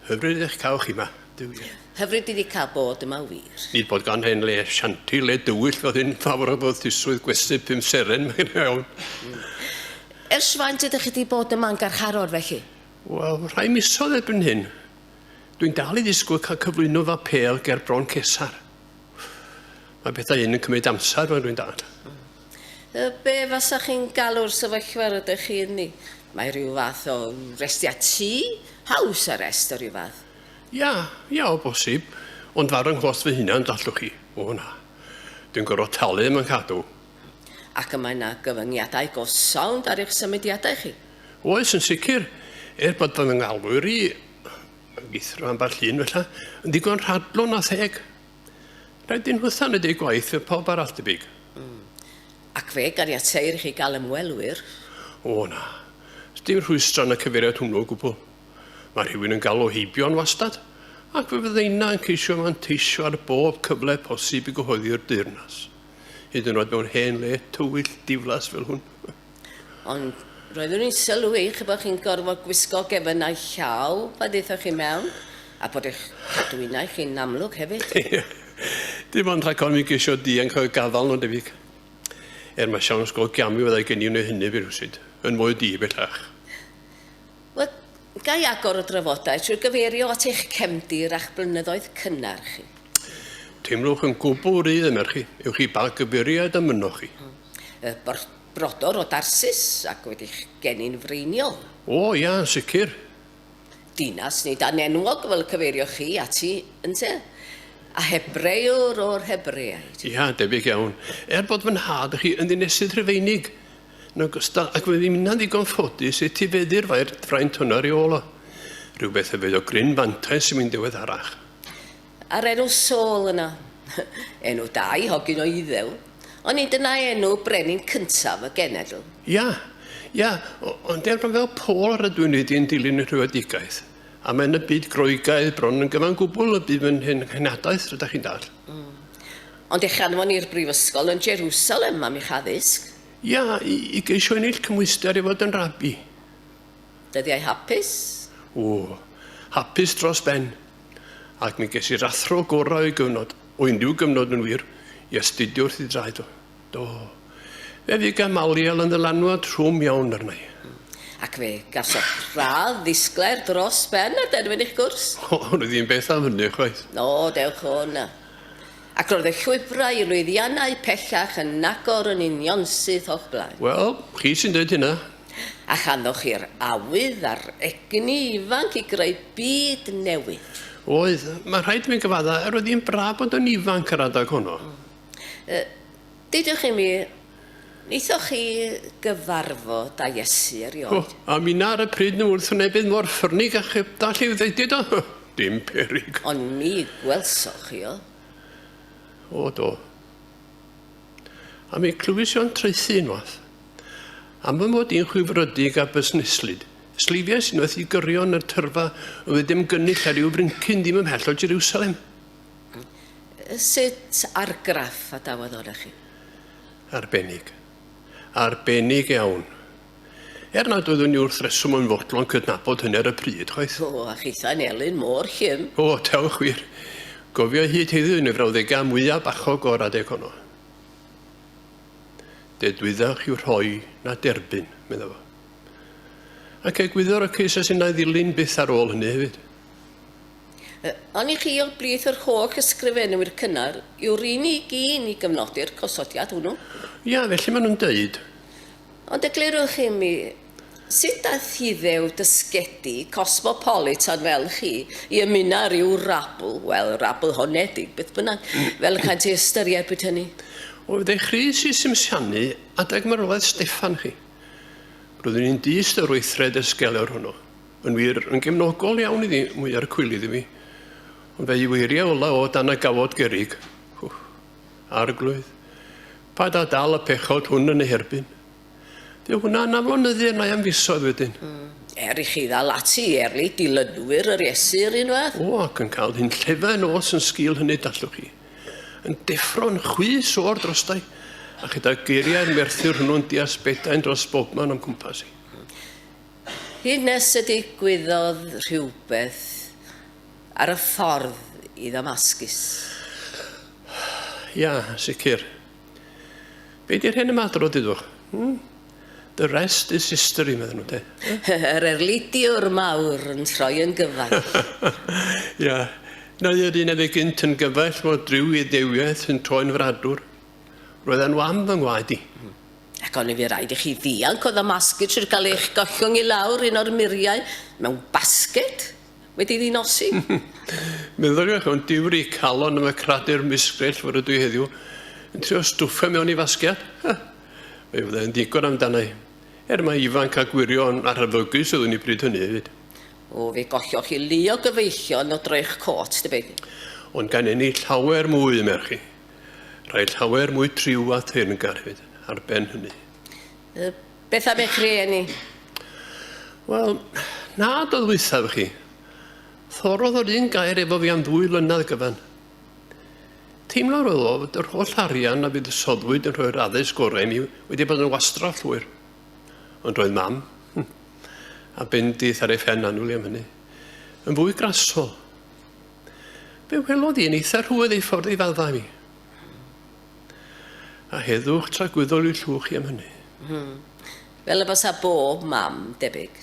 Hyfryd eich cael chi yma, Duw ie. Hyfryd i ni cael bod yma wir. Nid bod gan hen le shanty le dywyll oedd hyn fawr o fyddisuswydd gwesty pum seren, mae hynna iawn. Ers faint ydych chi wedi bod yma'n garcharor felly? Wel, rhai misoedd erbyn hyn. Dwi'n dal i ddisgwyl cael cyflwyno fy apêl ger Bron Cesar. Mae pethau un yn cymryd amser fel dwi'n dad. Y be fasa chi'n galw'r sefyllfa rydych chi ynddi? Mae rhyw fath o restia tŷ? House arrest o ryw fath? Ia, ia o bosib. Ond farw 'nghost fy hunan, dallwch chi, o na. Dwi'n gorfod talu am 'y nghadw. Ac y mae yna gyfyngiadau go sownd ar eich symudiadau chi. Oes, yn sicr. Er bod fy ngalwyr i, ag ithro ambell un fella, yn ddigon rhadlon a theg. Rhaid i nhw thaned eu gwaith fel pawb arall, debyg. Mm. Ac fe ganiateir i chi gael ymwelwyr? O, na. Sdim rhwystro yn y cyfeiriad hwnnw o gwbl. Mae rhywun yn galw heibio yn wastad, ac fe fydda inna yn ceisio manteisio ar bob cyfle posib i gyhoeddi'r deyrnas. hyd yn oed mewn hen le tywyll diflas fel hwn. Ond roeddwn i'n sylwi chi bod chi'n gorfod gwisgo gefynnau llaw pa ddeithoch chi mewn, a bod eich cadwynau chi'n amlwg hefyd. Dim ond rhag mi geisio dianc o'r gafael nhw'n debyg. Er mae siawns go gamu fyddai gen i wneud hynny fi rhywsut, yn fwy di bellach. Wel, Ga i agor y drafodaeth trwy gyfeirio at eich cefndir a'ch blynyddoedd cynnar chi? Teimlwch yn gwbl rhydd y merch chi, ewch i ba gyfeiriad a mynnoch chi. Y bor- brodor o Darsus, ac wedi'ch geni'n freiniol. O, ia, yn sicr. Dinas nid anenwog fel y cyfeirioch chi ati, ynte? A Hebreuwr o'r Hebreaid. Ia, debyg iawn. Er bod fy nhad chi yn ddinesydd Rhufeinig, Yn ogystal ag wedi minnau'n ddigon ffodus etifeddu'r fair fraint hwn ar ei ôl o, rhywbeth hefyd o gryn fantais i mi'n ddiweddarach. A'r enw Saul yna? Enw da i hogyn o Iddew, ond nid yna enw brenin cyntaf y genedl. Ia, ia, ond erbyn fel Paul rydw i'n wedi yn dilyn y rhywedigaeth, a mae yn y byd Groegaidd bron yn gyfan gwbl y bydd fy nhenhadlaeth, rydych chi'n dall. Mm. Ond eich anfon i'r brifysgol yn Jerusalem am eich addysg? Ia, i, i geisio ennill cymhwyster i fod yn rabi. Dyddiau hapus? O, hapus dros ben. Ac mi ges i'r athro gorau o'i gyfnod, o unrhyw gyfnod yn wir, i astudio wrth ei draed o. Do. Fe fu Gamaliel yn ddylanwad trwm iawn arna i. Ac fe gafodd radd ddisglair dros ben a derfyn eich gwrs? O, roedd hi'n beth am hynny, chwaith. O, dewch o 'na. Ac roedd y llwybrau i lwyddiannau pellach yn agor yn unionsyth o'ch blaen. Wel, chi sy'n dweud hynna. A chanwch chi'r awydd a'r egni ifanc i greu byd newydd. Oedd. Mae'n rhaid i mi gyfaddau, roedd hi'n braf bod yn ifanc yr adeg honno. Uh, dydych imi, wnaethoch chi gyfarfod â Iesu erioed? Oh, a minna ar y pryd nhw wrth wnebydd mor ffyrnig a cheb dall i'w ddeudid o. Dim perig. Ond mi gwelsoch chi o. O do. A mi clywys o'n traethu unwaith. Am fy mod i'n chwifrydig a busneslyd. Sleifiais unwaith i gyrion yr tyrfa oedd ddim gynnull ar ryw fryncyn ddim ymhell o Jerusalem. Sut argraff a dawodd o da chi? Arbennig. Arbennig iawn. Er nad oeddwn i wrth reswm yn fodlon cydnabod hynny ar y pryd, chwaith. O, a chithau'n elyn mor llym. O, dewch wir. Gofio i hyd heddiw yn y frawddegau mwyaf bachog o'r adeg honno. Dedwyddach yw rhoi na derbyn, meddai fo. Ac egwyddor y cys a sy'n ei ddilyn byth ar ôl hynny hefyd. Ond i chi o blith yr holl ysgrifenwyr cynnar yw'r unig un i gyfnodi'r cosodiad hwnnw. Ia, felly maen nhw'n dweud. Ond eglurwch i mi, sut daeth Hiddew dysgedi cosmopolitan fel chi i ymuno â rhyw rabl, wel, rabl honedig, beth bynnag, fel y caent ei ystyried bryd hynny? O, fe ddai Chris i simsianu adeg marwolaeth Steffan chi. Roeddwn i'n dyst o yr weithred ysgelion hwnnw. Yn wir, yn gefnogol iawn iddi, mwy ar y cwilydd i mi. Ond fe'i weiriau ola o dan y gawod gerig. Hww, arglwydd. Pa da dal y pechod hwn yn ei herbyn. Dyw hwnna yn aflonyddu arna i am fisoedd wedyn. Mm. Er i chi ddal ati i erlid dilynwyr yr Iesu yr un fath. O, ac yn cael hyn llefa yn os yn sgil hynny, dallwch chi. Yn deffro'n chwys o'r drostau, a chyda geiriau'r merthyr hwnnw'n deall bedain dros bobman o'm cwmpas i. Hyd nes y digwyddodd rhywbeth ar y ffordd i Ddamascus. Ia, yn sicr. Be di'r hen ymadrodd, dudwch? Hmm? The rest is history, meddyn nhw, de. Yr erlidiwr mawr yn troi yn gyfaill. Ia. Neu yr un a fu gynt yn gyfaill fod rhyw Iudewiaeth yn troi'n fradwr. Roedd e'n wam fy ngwaed i. Ac oni fu raid i chi ddianc o ddamasgid trwy gael eich gollwng i lawr un o'r muriau mewn basged wedi ddi-nosi? Meddyliwch am diwri calon am y cradur misgrell fore Duw heddiw, yn trio stwffio mewn i fasgiad? Ha! Fe fyddai'n ddigon amdana i, er mai ifanc a gwirion a rhyfygus oeddwn i bryd hynny hefyd. O, fe golloch chi lu o gyfeillion o droi'ch côt, tybed? Ond gan ennill llawer mwy, y merch chi. Rhaid llawer mwy triw a theyrngar hefyd, ar ben hynny. Y, beth am eich rhieni? Wel, na do ddwythaf chi. Thorodd yr un gair efo fi am ddwy flynedd gyfan. Teimlo'r oedd o fod yr holl arian a fydd y soddwyd yn rhoi'r addysg gorau i mi wedi bod yn wastraff llwyr. Ond roedd mam, hm, a bendith ar ei phen anwyl am hynny, yn fwy grasol. Fe welodd i'n eitha rhwydd ei ffordd i fadda mi. A heddwch tragwyddol i'w llwch i am hynny. Hmm. Fel y basa bob mam, debyg.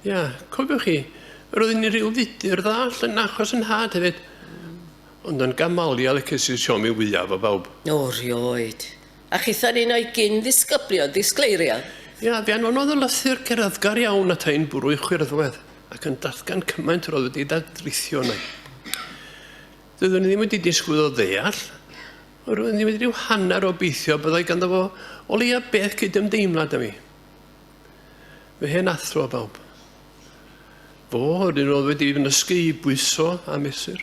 Ia, cofiwch chi, yr oedd yn rhyw fudur dda allan achos yn nhad hefyd. Ond yn gamaliel y cesis siomi fwyaf o bawb. O, rioed. A chithau'n un o'i gyn-ddisgyblion, ddisgleirio. Ia, fe anfonodd y lythyr gerddgar iawn ata i'n bwrw i chwyrddwedd, ac yn datgan cymaint yr oedd wedi dadrithio arna i. Doeddwn i ddim wedi disgwyl o ddeall, ond roeddwn i wedi rhyw hanner obeithio byddai ganddo fo o leia beth cydymdeimlad â mi. Fy hen athro bawb. Fo, yr un oedd wedi fy nysgu i bwyso a mesur.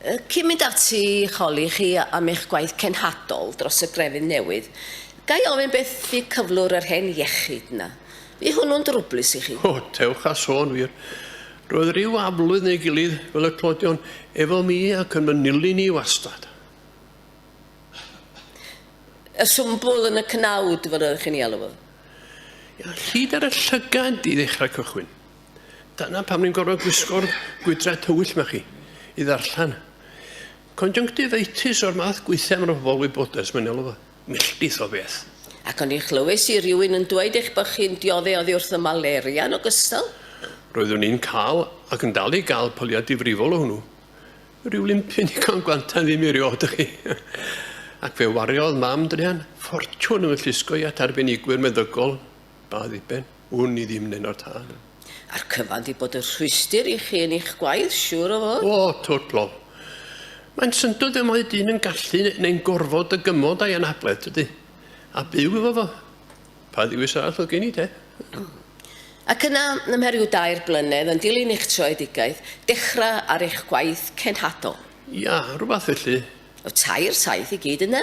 Cyn mynd ati i holi chi am eich gwaith cenhadol dros y grefydd newydd, ga i ofyn beth fu cyflwr yr hen iechyd 'na? Fu hwnnw'n drwblus i chi? O, dewch â sôn wir. Roedd ryw aflwydd neu'i gilydd, fel y clodion, efo mi ac yn fy nilyn i wastad. Y swmbl yn y cnawd, fel yr oeddech chi'n ei alw fo? Ia, llid ar y llygaid i ddechrau cychwyn. Dyna pam ni'n gorfod gwisgo'r gwydra tywyll ma chi i ddarllen. Conjunctivitis o'r math gweithiau mae'n pobol wybodaeth, mae'n elw fo milltith o beth. Ac o'n i chlywys i rywun yn dweud eich bod chi'n diodde oddi wrth y malaria yn ogystal? Roeddwn i'n cael ac yn dal i gael pyliau difrifol o hwnnw. Rhyw limpyn i gael gwantan ddim i riod ydych chi. Ac fe wariodd mam druan ffortiwn yn fy llusgo i at arbenigwyr meddygol Pa ddiben? Wn i ddim, Nenor Tân. A'r cyfan 'di bod yn rhwystr i chi yn eich gwaith, siŵr o fod. O, twt blo. Mae'n syndod fel mae dyn yn gallu, neu'n gorfod, dygymod a'i anabledd, tydi? A byw efo fo. Pa ddewis arall oedd gen i, te? Ac yna, ym mheriw dair blynedd, yn dilyn eich troedigaeth, dechrau ar eich gwaith cenhadol. Ia, rhywbeth felly. O, tair saith i gyd yna.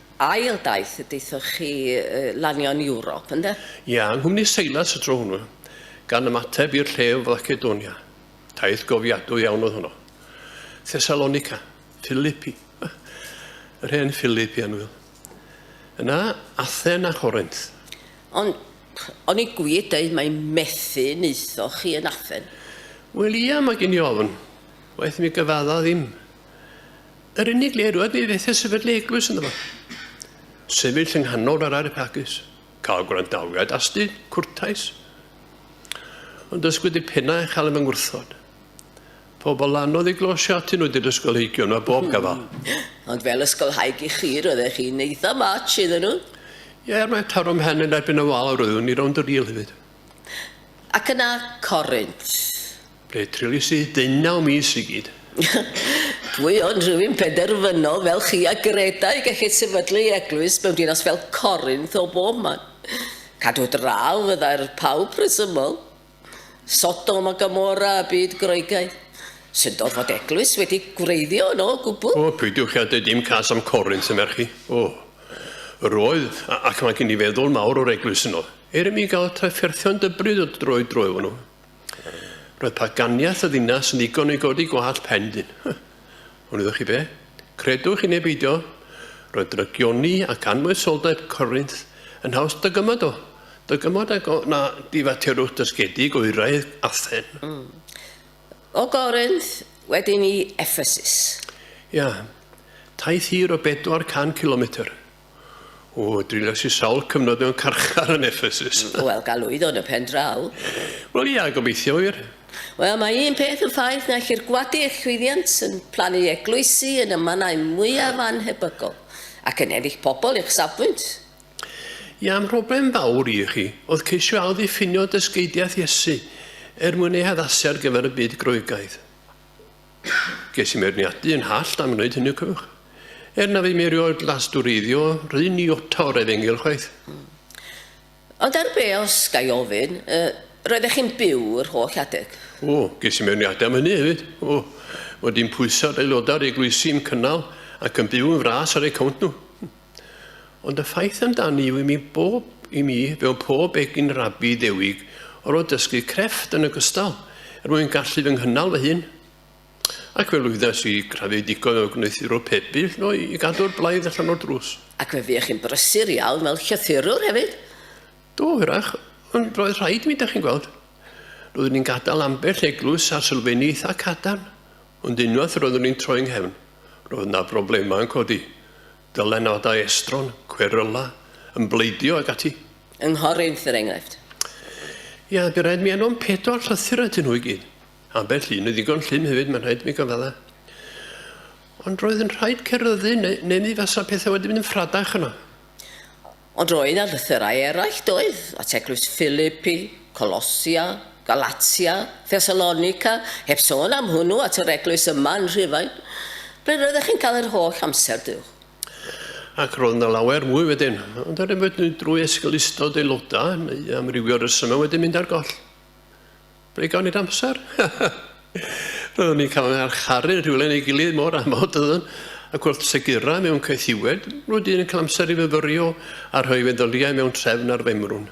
Ail daith y daethoch chi lanio yn Ewrop, ynde? Ia, yng nghwmni Seilas y tro hwnnw, gan ymateb i'r lle yn Flacedonia. Taith gofiadwy iawn oedd honno. Thessalonica, Philippi, yr hen Philippi annwyl. Yna, Athen a Chorinth. Ond, o'n i gwir dweud mai methu wnaethoch chi yn Athen? Wel ia, mae gen i ofn. Waeth mi gyfadda ddim. Yr unig le roedd mi fethe sefydlu le eglwys ynddo fo. Sefyll yng nghanol yr arepagus, cael gwrandawiad asti, cwrtais. Ond dysgwyd y penna a chael yng ngwrthod. Pobl anodd i glosio atyn nhw did ysgolheigion yma bob gafal. Ond fel ysgolhaig i chi, roeddech chi'n eitha much iddyn nhw. Ie, er mae taro mhen yn erbyn y wal roeddwn i rownd y rîl hefyd. Ac yna Corynt. Fe treulies i ddeunaw mis i gyd. Pwy ond rhywun penderfynol fel chi a Greta i gellid sefydlu ei eglwys mewn dinas fel Corinth o bob man. Cadw draw, fyddai'r pawb rhesymol. Sodom a Gomorrah y byd Groegaidd. Syndod fod eglwys wedi gwreiddio yno o gwbl. O, peidiwch â deud dim cas am Corinth, y merch i. O! Yr oedd, ac mae gen i feddwl mawr o'r eglwys yno. Er i mi gael trafferthion dybryd o dro i dro efo nhw. Roedd paganiaeth y ddinas yn ddigon i godi gwallt pen dyn. Ond iddo chi be? Credwch i neu beidio, roedd drygioni ac anfoesoldeb Corinth yn haws dygymod o, dygymod ag o na difaterwch dysgedig oeraidd Athen. Mm. O Corinth, wedyn i Ephesus. Ia. Taith hir o 400 cilometr. O, driniais i sawl cyfnod mewn carchar yn Ephesus. Wel, galwyddo yn y pen draw. Wel, ia, gobeithio wir. Wel, mae un peth yn ffaith, naill i'r gwadu eich llwyddiant yn plannu eglwysi yn y mannau mwyaf annhebygol, ac yn ennill pobl i'ch safbwynt. Ia, mhroblem fawr i chi oedd ceisio ailddiffinio dysgeidiaeth Iesu er mwyn ei haddasu ar gyfer y byd Groegaidd. Ges i meirniadu yn hallt am wneud hynny, cofiwch. Er na fi mi erioed lastureiddio, rhyn i ota o'r efengyl chwaith. Mm. Ond ar be, os ga i ofyn, uh, roeddech chi'n byw yr holl adeg? O, ges i meirniadu am hynny hefyd. O, fod i'n pwyso ar aelodau'r eglwysi i'm cynnal ac yn byw yn fras ar eu cawnt nhw. Ond y ffaith amdani yw i mi bob, i mi, mewn pob egin rabi ddewig, or o dysgu crefft yn ogystal, er mwyn gallu fy nghynnal fy hun. Ac fe lwyddas i grafu digon o gwneuthurwr pebyll no i gadw'r blaidd allan o'r drws. Ac fe fuech chi'n brysur iawn fel llythurwr hefyd. Do, hwyrach, ond roedd rhaid mi, da chi'n gweld. Roeddwn i'n gadael ambell eglwys a sylfeini eitha cadarn, Ond unwaith roeddwn i'n troi 'nghefn, roedd 'na broblemau yn codi. Dylanwadau estron, cweryla, yn bleidio ac ati. Ynghorydd, er enghraifft? Ia, bu raid mi anfon pedwar llythyr atyn nhw i gyd. Ambell un yn ddigon llym hefyd, mae'n rhaid mi gyfadda. Ond roedd yn rhaid ceryddu, neu, neu mi fasa pethau wedi mynd yn ffradach yno. Ond roedd 'na lythyrau eraill, doedd? At eglwys Philippi, Colossia, Galatia, Thessalonica, heb sôn am hwnnw at yr eglwys yma yn Rhufain. Ble roeddech chi'n cael yr holl amser, Duw? Ac roedd 'na lawer mwy wedyn, ond er enghraifft drwy esgeulustod aelodau, neu amrywiol resymau wedi mynd ar goll. Ble gawn ni'r amser? Roeddwn ni'n cael ein archaru yn rhywle neu gilydd mor amod oeddwn, ac wrth segura mewn caethiwed, roedd un yn cael amser i fyfyrio a rhoi feddyliau mewn trefn ar femrwn.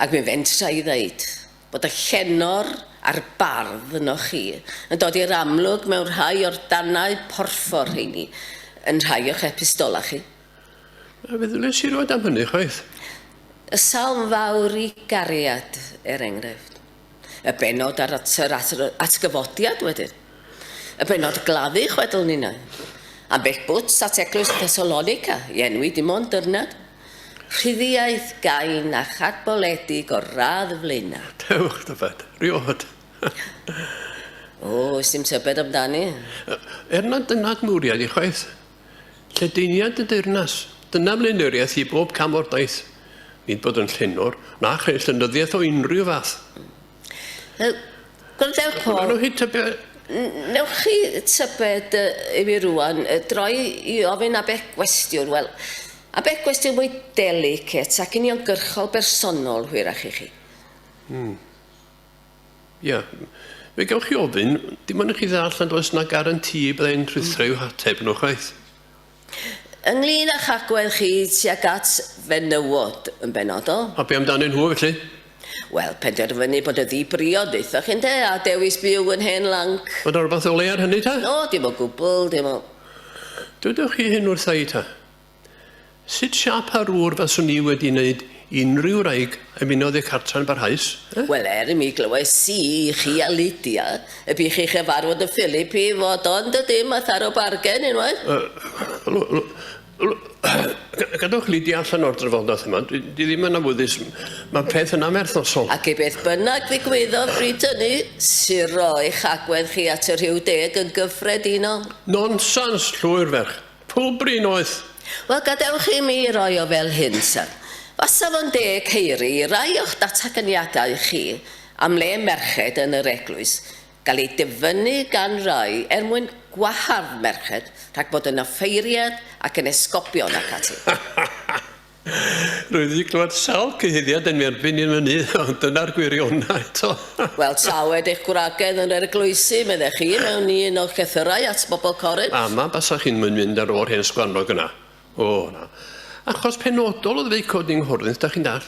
Ac mi fentra i ddeud bod y llenor a'r bardd ynoch chi yn dod i'r amlwg mewn rhai o'r danau porffor rheini yn rhai o'ch epistolau chi. A fe ddyles i rywed am hynny, chwaith. Y salm fawr i gariad, er enghraifft. Y benod ar yr atgyfodiad wedyn. Y benod gladdu chwedl ninnau. Ambell bwts at eglwys Thessalonica i enwi dim ond dyrnad. Rhyddiaeth gain a chadboledig o'r radd y flaenau. Dewch, dyfed, riod. o, ys dim tybed amdani. Er nad dyna dy mwriad i chwaith. Lledaeniad y deyrnas, dyna flaenoriaeth i bob cam o'r daith. Nid bod yn llenor, na chreu llenyddiaeth o unrhyw fath. Uh, Gwrandewch, Paul. Gwrandewch chi tybed... Newch chi tybed uh, i fi rwan, uh, droi i ofyn abe gwestiwn, wel, abe gwestiwn mwy delicet ac uniongyrchol bersonol, hwyrach i chi. Hmm. Ia. Fe gewch chi ofyn, dim ond i chi ddall nad oes yna garantî y byddai'n rhuthro i'w hateb yno chwaith. Ynglŷn â'ch agwedd chi tuag at fenywod yn benodol? A be amdanyn nhw felly? Wel, penderfynu bod y ddi-briod ddaethoch chi ynde, a dewis byw yn hen lanc. Mae 'na rywbeth o le ar hynny ta? O, dim o gwbl, dim o... Dywedwch chi hyn wrtha i ta? Sut siâp a rwr faswn i wedi wneud unrhyw wraig ymunodd â cartre'n barhaus, eh? Wel, er i mi glywais i i chi a Lydia y bu chi chyfarfod y Philip i fod o yn dydi, ma tharo bargen unwaith. Yy, l- l- l- ga- gadwch Lydia allan o'r drafodaeth yma, dwi dwi ddim yn awyddus, ma peth yn anferthosol. Ac i beth bynnag ddigwyddodd bryd hynny, suro eich agwedd chi at y Rhiw Deg yn gyffredinol. Nonsens, llwyr ferch. Pw brin oedd? Wel, gadewch i mi roi o fel hyn, syr. Fasa fo'n deg ceiri i rai o'ch dataganiadau chi am le merched yn yr eglwys gael eu dyfynnu gan rai er mwyn gwahardd merched rhag bod yn offeiriad ac yn esgobion ac ati. Rwyf wedi clywed sawl cyhuddiad yn erbyn hyn fyny, ond dyna'r gwirionedd eto. Wel, tawed eich gwragedd yn yr eglwysi, meddech chi, mewn i un o'ch llythyrau at bobl Corin? A na basach chi'n moyn mynd ar ôl hen sgwarnog yna. O, na. Achos penodol oedd feic codi yng Nghornith, da chi'n dall.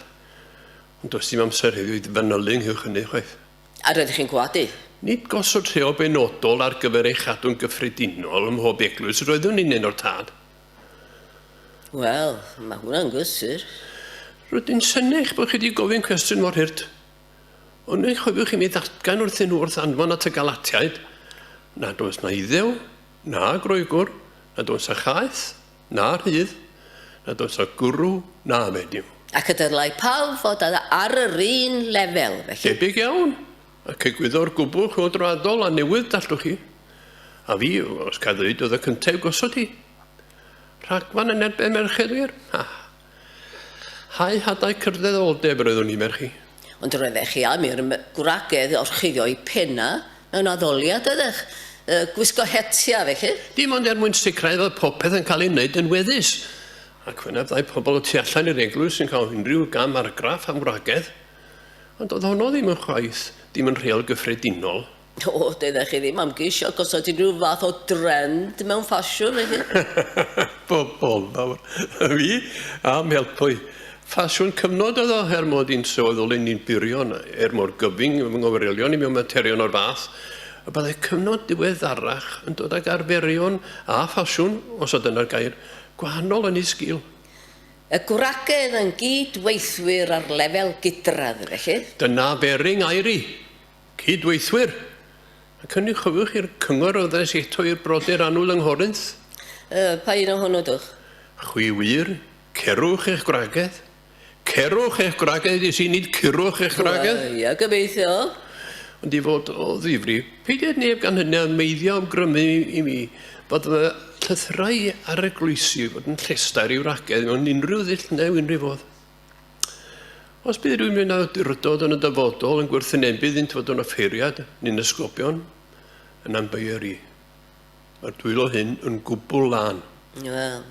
Ond does dim amser heddiw i fanylu ynghylch hynny, chwaith. A roeddech chi'n gwadu? Nid gosod rheol benodol ar gyfer ei chadw'n gyffredinol ym mhob eglwys roeddwn i'n un o'r tad. Wel, mae hwnna'n gysur. Rydyn synnu eich bod chi wedi gofyn cwestiwn mor hurt. Ond eich chofiwch i mi ddatgan wrthyn nhw wrth anfon at y Galatiaid nad oes na Iddew, na Groegwr, nad oes a chaeth, na rhydd, nad oes a gwrw, na fenyw. Ac y dylai pawb fod ar yr un lefel, felly. Debyg iawn. Ac egwyddor gwbl chwyldroadol a newydd, dallwch chi. A fi, os ca ddweud, oedd y cyntaf i'w gosod hi. Rhagfarn yn erbyn merched wir? Ha! Hau hadau cyrddeddol-deb yr oeddwn i, merch i. Ond roeddech chi am i'r gwragedd orchuddio'i phena mewn addoliad, doeddech? Y gwisgo hetia, felly? Dim ond er mwyn sicrhau fod popeth yn cael ei wneud yn weddus. Ac wyneb ddau pobl y tu allan i'r eglwys yn cael unrhyw gam argraff am wragedd. Ond oedd honno ddim yn chwaith ddim yn rheol gyffredinol. O, doeddech chi ddim am geisio gosod unrhyw fath o drend mewn ffasiwn, na chi? Pobol fawr. Fi, am helpu. Ffasiwn cyfnod oedd o, er mod i'n sylweddoli ole ni'n byrio yna, er mor gyfyng fy nghyfeirion i mewn materion o'r fath, y byddai cyfnod diweddarach yn dod ag arferion, a ffasiwn, os oedd dyna'r gair, gwahanol yn ei sgil. Y gwragedd yn gyd-weithwyr ar lefel gydradd, felly? Dyna Bering Airi, cyd-weithwyr, ac hynny, chofiwch, i'r cyngor a ddes eto i'r brodyr annwyl yng Nghorinth. Y, pa un ohonyn nhw dwch? Chwi wir, cerwch eich gwragedd. Cerwch eich gwragedd, ges i, nid curwch eich gwragedd. Wel, ia, gobeithio. Ond i fod o ddifri, peidied neb gan hynny â meiddio am grymu i mi. Bod y llythyrau ar y groesi i fod yn llestau'r i'w ragedd mewn unrhyw ddull neu unrhyw fodd. Os bydd rhywun mewn awdurdod yn y dyfodol yn gwerthynebu iddynt fod yn offeiriad neu'n ysgobion, yn anbeier i. Mae'r dwylo hyn yn gwbl lân. Wel,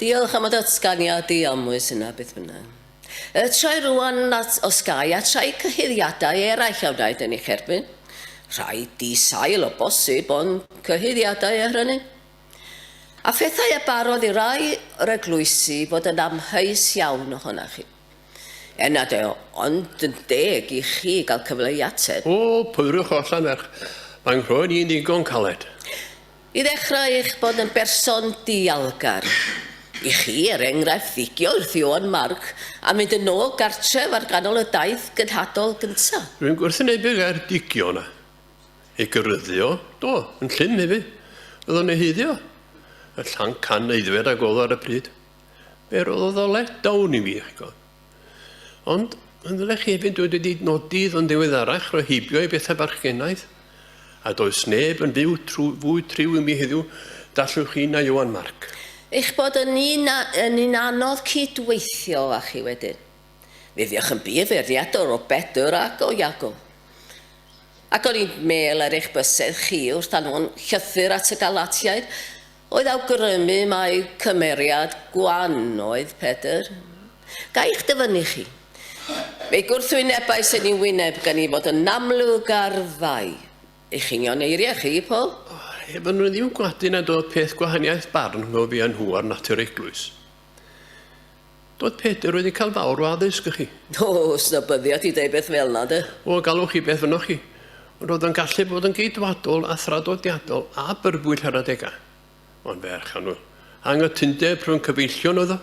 diolch am y datganiad diamwys yna, beth bynnag. Y trai rwan nad os gai a trai cyhuddiadau eraill a wnaed yn eich erbyn. Rhai di-sail o bosib, ond cyhuddiadau er hynny. A phethau a barodd i rai yr eglwysi fod yn amheus iawn ohona chi. Er nad e ond yn deg i chi gael cyfle i ateb. O, pwyrwch o allan merch. Mae nghroen i'n ddigon caled. I ddechrau, eich bod yn berson dialgar. I chi, er enghraifft, figio wrth Ioan Marc a mynd yn ôl gartref ar ganol y daith gynhadol gynta'. Rwy'n gwrthwynebu gair 'digio' yna. Ei gyrryddio? Do, yn llym hefyd. Roedd o'n ei heiddio. Y llanc can aeddfed a gododd ar y pryd. Fe roddodd o let down i mi, chi'n gwybod. Ond, yn ddrych hefyd dwi wedi nodi yn ddiweddarach roi heibio i bethau barchgenaidd, a does neb yn fyw trwy, fwy triw i mi heddiw, dallwch chi, na Ieuan Marc. Eich bod yn un, yn un anodd cyd-weithio â chi wedyn. Mi fuoch yn bur fwriadwr o Bedwr ac o Iago. Ac o'n i'n mêl ar eich bysedd chi wrth anfon llythyr at y Galatiaid, Oedd awgrymu mai cymeriad gwan oedd Pedr. Ga i'ch dyfynnu chi? Fe gwrthwynebais yn i'w wyneb gan i fod yn amlwg ar fai. Eich union eiriau chi, Paul? Heb yn rhydd i'w gwadu nad oedd peth gwahaniaeth barn rhwng fi a nhw ar natur eglwys. Doedd Peter wedi cael fawr o addysg, chi. O, os na byddiat i ddeud beth fel 'na, 'de. O, gallwch chi beth ynoch chi. Ond roedd o'n gallu bod yn Geidwadol a thradodiadol a byrbwyll ar adegau. Ond ferch annwyl. Anghytundeb rhwng cyfeillion oedd o.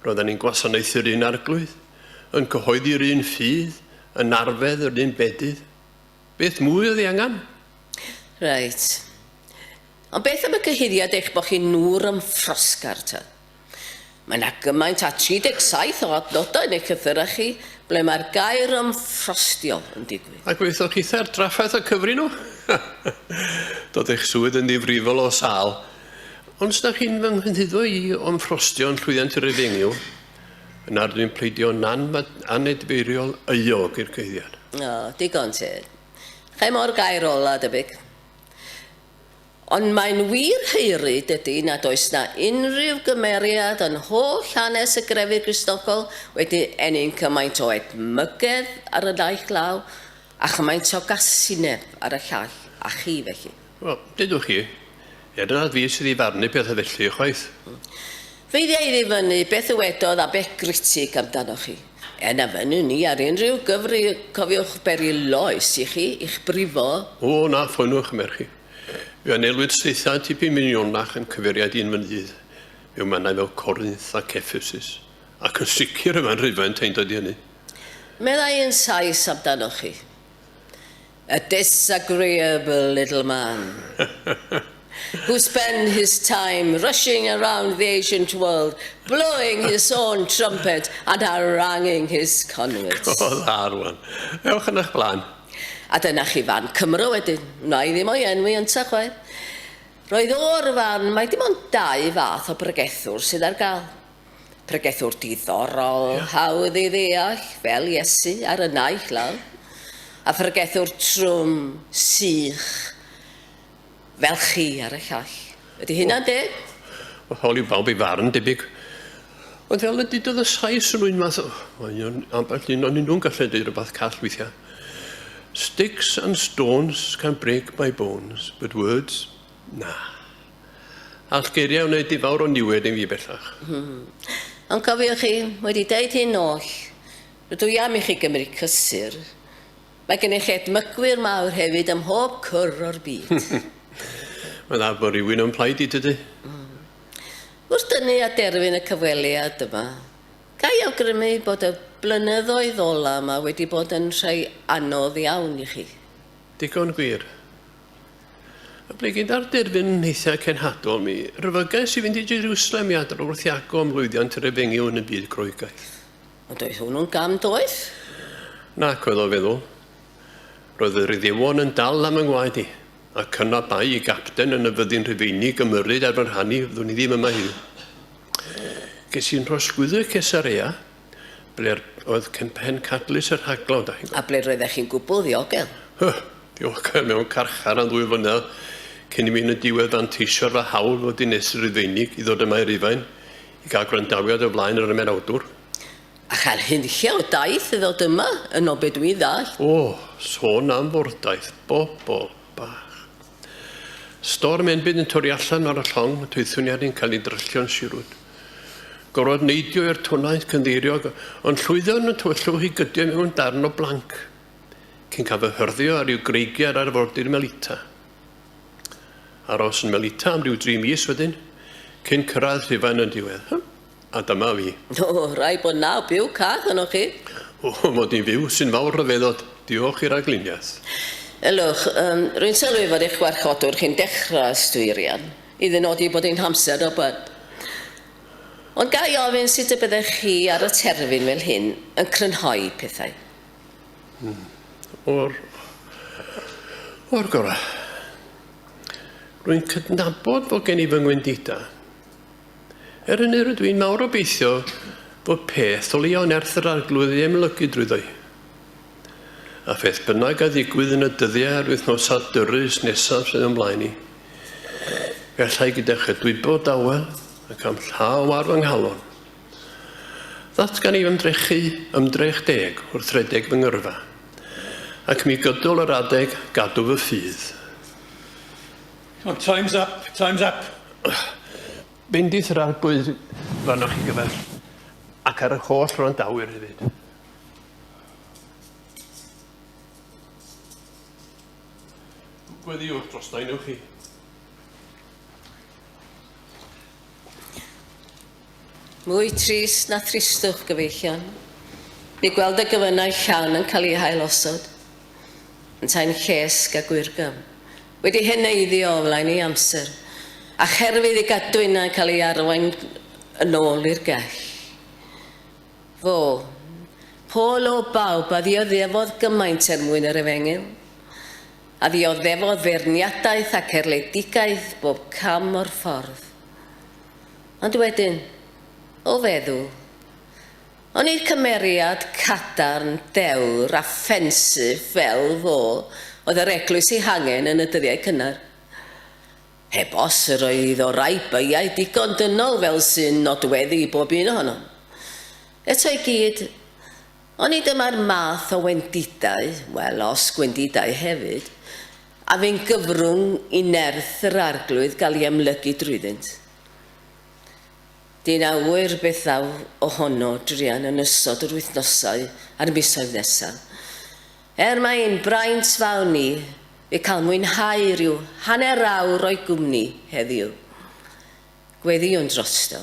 Roeddan ni'n gwasanaethu'r un arglwydd, yn cyhoeddi'r un ffydd, yn arfedd yr un bedydd. Beth mwy oedd ei angen? Reit. Ond beth am y cyhuddiad eich bod chi'n ŵr am ffrosgar, ta? Mae yna gymaint â 37 o adnodau yn eich llythyrau chi ble mae'r gair am ffrostio yn digwydd. Ac wnaethoch chi thâ'r drafferth a cyfri nhw? Doedd eich swydd yn ddifrifol o sâl. Ond os ydych chi'n fy nghynhyddo i o'm ffrostio yn llwyddiant yr efengyl, yna rydw i'n pleidio nan anedfeiriol euog i'r cueddiad. O, digon teg. Chei mo'r gair ola, debyg. Ond mae'n wir heuri, dydy, nad oes 'na unrhyw gymeriad yn holl hanes y grefydd Gristnogol wedi ennyn cymaint o edmygedd ar y naill law, a chymaint o gasineb ar y llall, a chi, felly. Wel, deudwch chi, ella nad fi sydd i farnu pethau felly, ychwaith. Feidia i ddifynnu beth ddywedodd Abbé Critic amdanoch chi. Er na fynnwn ni ar unrhyw gyfri, cofiwch beri loes i chi, i'ch brifo. O, na, ffoniwch y merch chi. Fe anelwyd saethau tipyn minionach yn cyfeiriad i'n mynydd mewn mannau fel Corinth ac Ephesus, ac yn sicr y mae'n Rhufaint ein dod i hynny. Meddai yn Sais amdanoch chi, A disagreeable little man, who spend his time rushing around the ancient world, blowing his own trumpet and haranguing his converts. Go dda, rwan. Ewch yn eich blaen. A dyna chi fan Cymro wedyn. Wna i ddim o'i enwi yntau chwaith. Roedd o o'r fan mae dim ond dau fath o bregethwr sydd ar gael. Pregethwr diddorol, yeah. hawdd i ddeall, fel Iesu ar y naill law, a phregethwr trwm, sych, fel chi ar y llall. Ydy hynna'n deg? Wel, hawl i bawb ei farn, debyg. Ond fel y dudodd y Sais yn un math o... Mae un ambell un o'n nhw'n gallu dweud rhywbeth call weithiau. Sticks and stones can break my bones, but words, na. All geiriau wneud i fawr o niwed yn fi bellach. Hmm. Ond cofiwch chi, wedi deud hyn oll, rydw i am i chi gymryd cysur. Mae gennych edmygwyr mawr hefyd ym mhob cwr o'r byd. Mae'n dda bod rhywun o'n plaid i, tydi? Wrth dynnu a derfyn y cyfweliad yma, ga i awgrymu bod y blynyddoedd ola yma wedi bod yn rhai anodd iawn i chi? Digon gwir. A ble gyda'r derfyn hithau cenhadol mi ryfygais i fynd i Jerwsalem i adrodd wrth Iago am lwyddiant yr efengyl yn y byd Groegaidd. Ond oedd hwnnw'n gam doeth? Nac oedd o feddwl. Roedd y Rhyddiwon yn dal am yng ngwaed i, ac yna bai i gapten yn y fyddin Rhufeinig ymyrryd ar fy rhan i, fyddwn i ddim yma heddiw. Ges i'n rhosgwyddo i Cesarea, ble oedd pen cadlys y rhaglaw, da chi'n gwybod. A ble roeddech chi'n gwbl ddiogel? Hy, diogel mewn carchar am ddwy flynedd, cyn i mi yn y diwedd fanteisio'r fy hawl fel dinestr Rhufeinig i ddod yma i Rufain, I gael gwrandawiad o flaen yr ymenawdwr. A chael hunlle o daith i ddod yma, yn o be dwi'n ddall. O, sôn am fordaith, bobl bach. Storm enbyd yn torri allan ar y llong, twythwn i ar yn cael ei dryllio'n sirwyd. Gorfod neidio i'r twnaeth cynddeiriog, ond llwyddo yn y tywyllwch i gydio mewn darn o blanc, cyn cael fy hyrddio ar i'w greigiau ar arfordir Melita. Aros yn Melita am ryw dri mis wedyn, cyn cyrraedd Rhufain yn diwedd. Hy, a dyma fi. O, rhaid bod naw byw cach yno chi. O, mod i'n fyw, sy'n fawr rhyfeddod. Diolch i ragluniaeth. Ylwch, um, rwy'n sylwi fod eich gwarchodwr chi'n dechrau ystwyrian, i ddynodi bod ein hamser robad. Ond ga i ofyn sut y byddech chi ar y terfyn fel hyn yn crynhoi pethau? Hmm. O'r... O'r gorau. Rwy'n cydnabod bod gen i fy ngwendida. Er hynny rydw i'n mawr obeithio bod peth o leia nerth yr arglwydd ei emlygu drwyddo i. A pheth bynnag a ddigwydd yn y dyddiau a'r wythnosau dyrus nesaf sydd ymlaen i. Gallai gyda chydwybod dawel ac am llaw ar fy nghalon. Ddatgan i ymdrechu ymdrech deg wrth redeg fy ngyrfa, ac mi gydol yr adeg gadw fy ffydd. Come on, time's up, time's up! Bendith yr Arglwydd fan'na chi gyfer, ac ar yr holl wrandawyr hefyd. Gweddiwch drosta i newch chi. Mwy trist na thristwch, gyfeillion, yw gweld y gefynnau llawn yn cael eu hailosod, yntau'n llesg a gwyrgam, wedi heneiddio o flaen ei amser, a cherfydd ei gadwynau yn cael eu arwain yn ôl i'r gell. Fo, Paul o bawb, a ddioddefodd gymaint er mwyn yr efengyl, a ddioddefodd feirniadaeth ac erledigaeth bob cam o'r ffordd. Ond wedyn, o feddwl, o'n i'r cymeriad cadarn, dewr a ffensif fel fo oedd yr eglwys ei hangen yn y dyddiau cynnar. Heb os, yr oedd o rai beiau digon dynol fel sy'n nodweddu i bob un ohonom. Eto i gyd, oni dyma'r math o wendidau, wel, os gwendidau hefyd, A fu'n gyfrwng i nerth yr Arglwydd gael ei amlygu drwyddynt. Dyn a ŵyr beth ddaw o hono druan yn ystod yr wythnosau a'r misoedd nesaf. Er mai ein braint fawr ni yw cael mwynhau rhyw hanner awr o'i gwmni heddiw, gweddïwn drosto.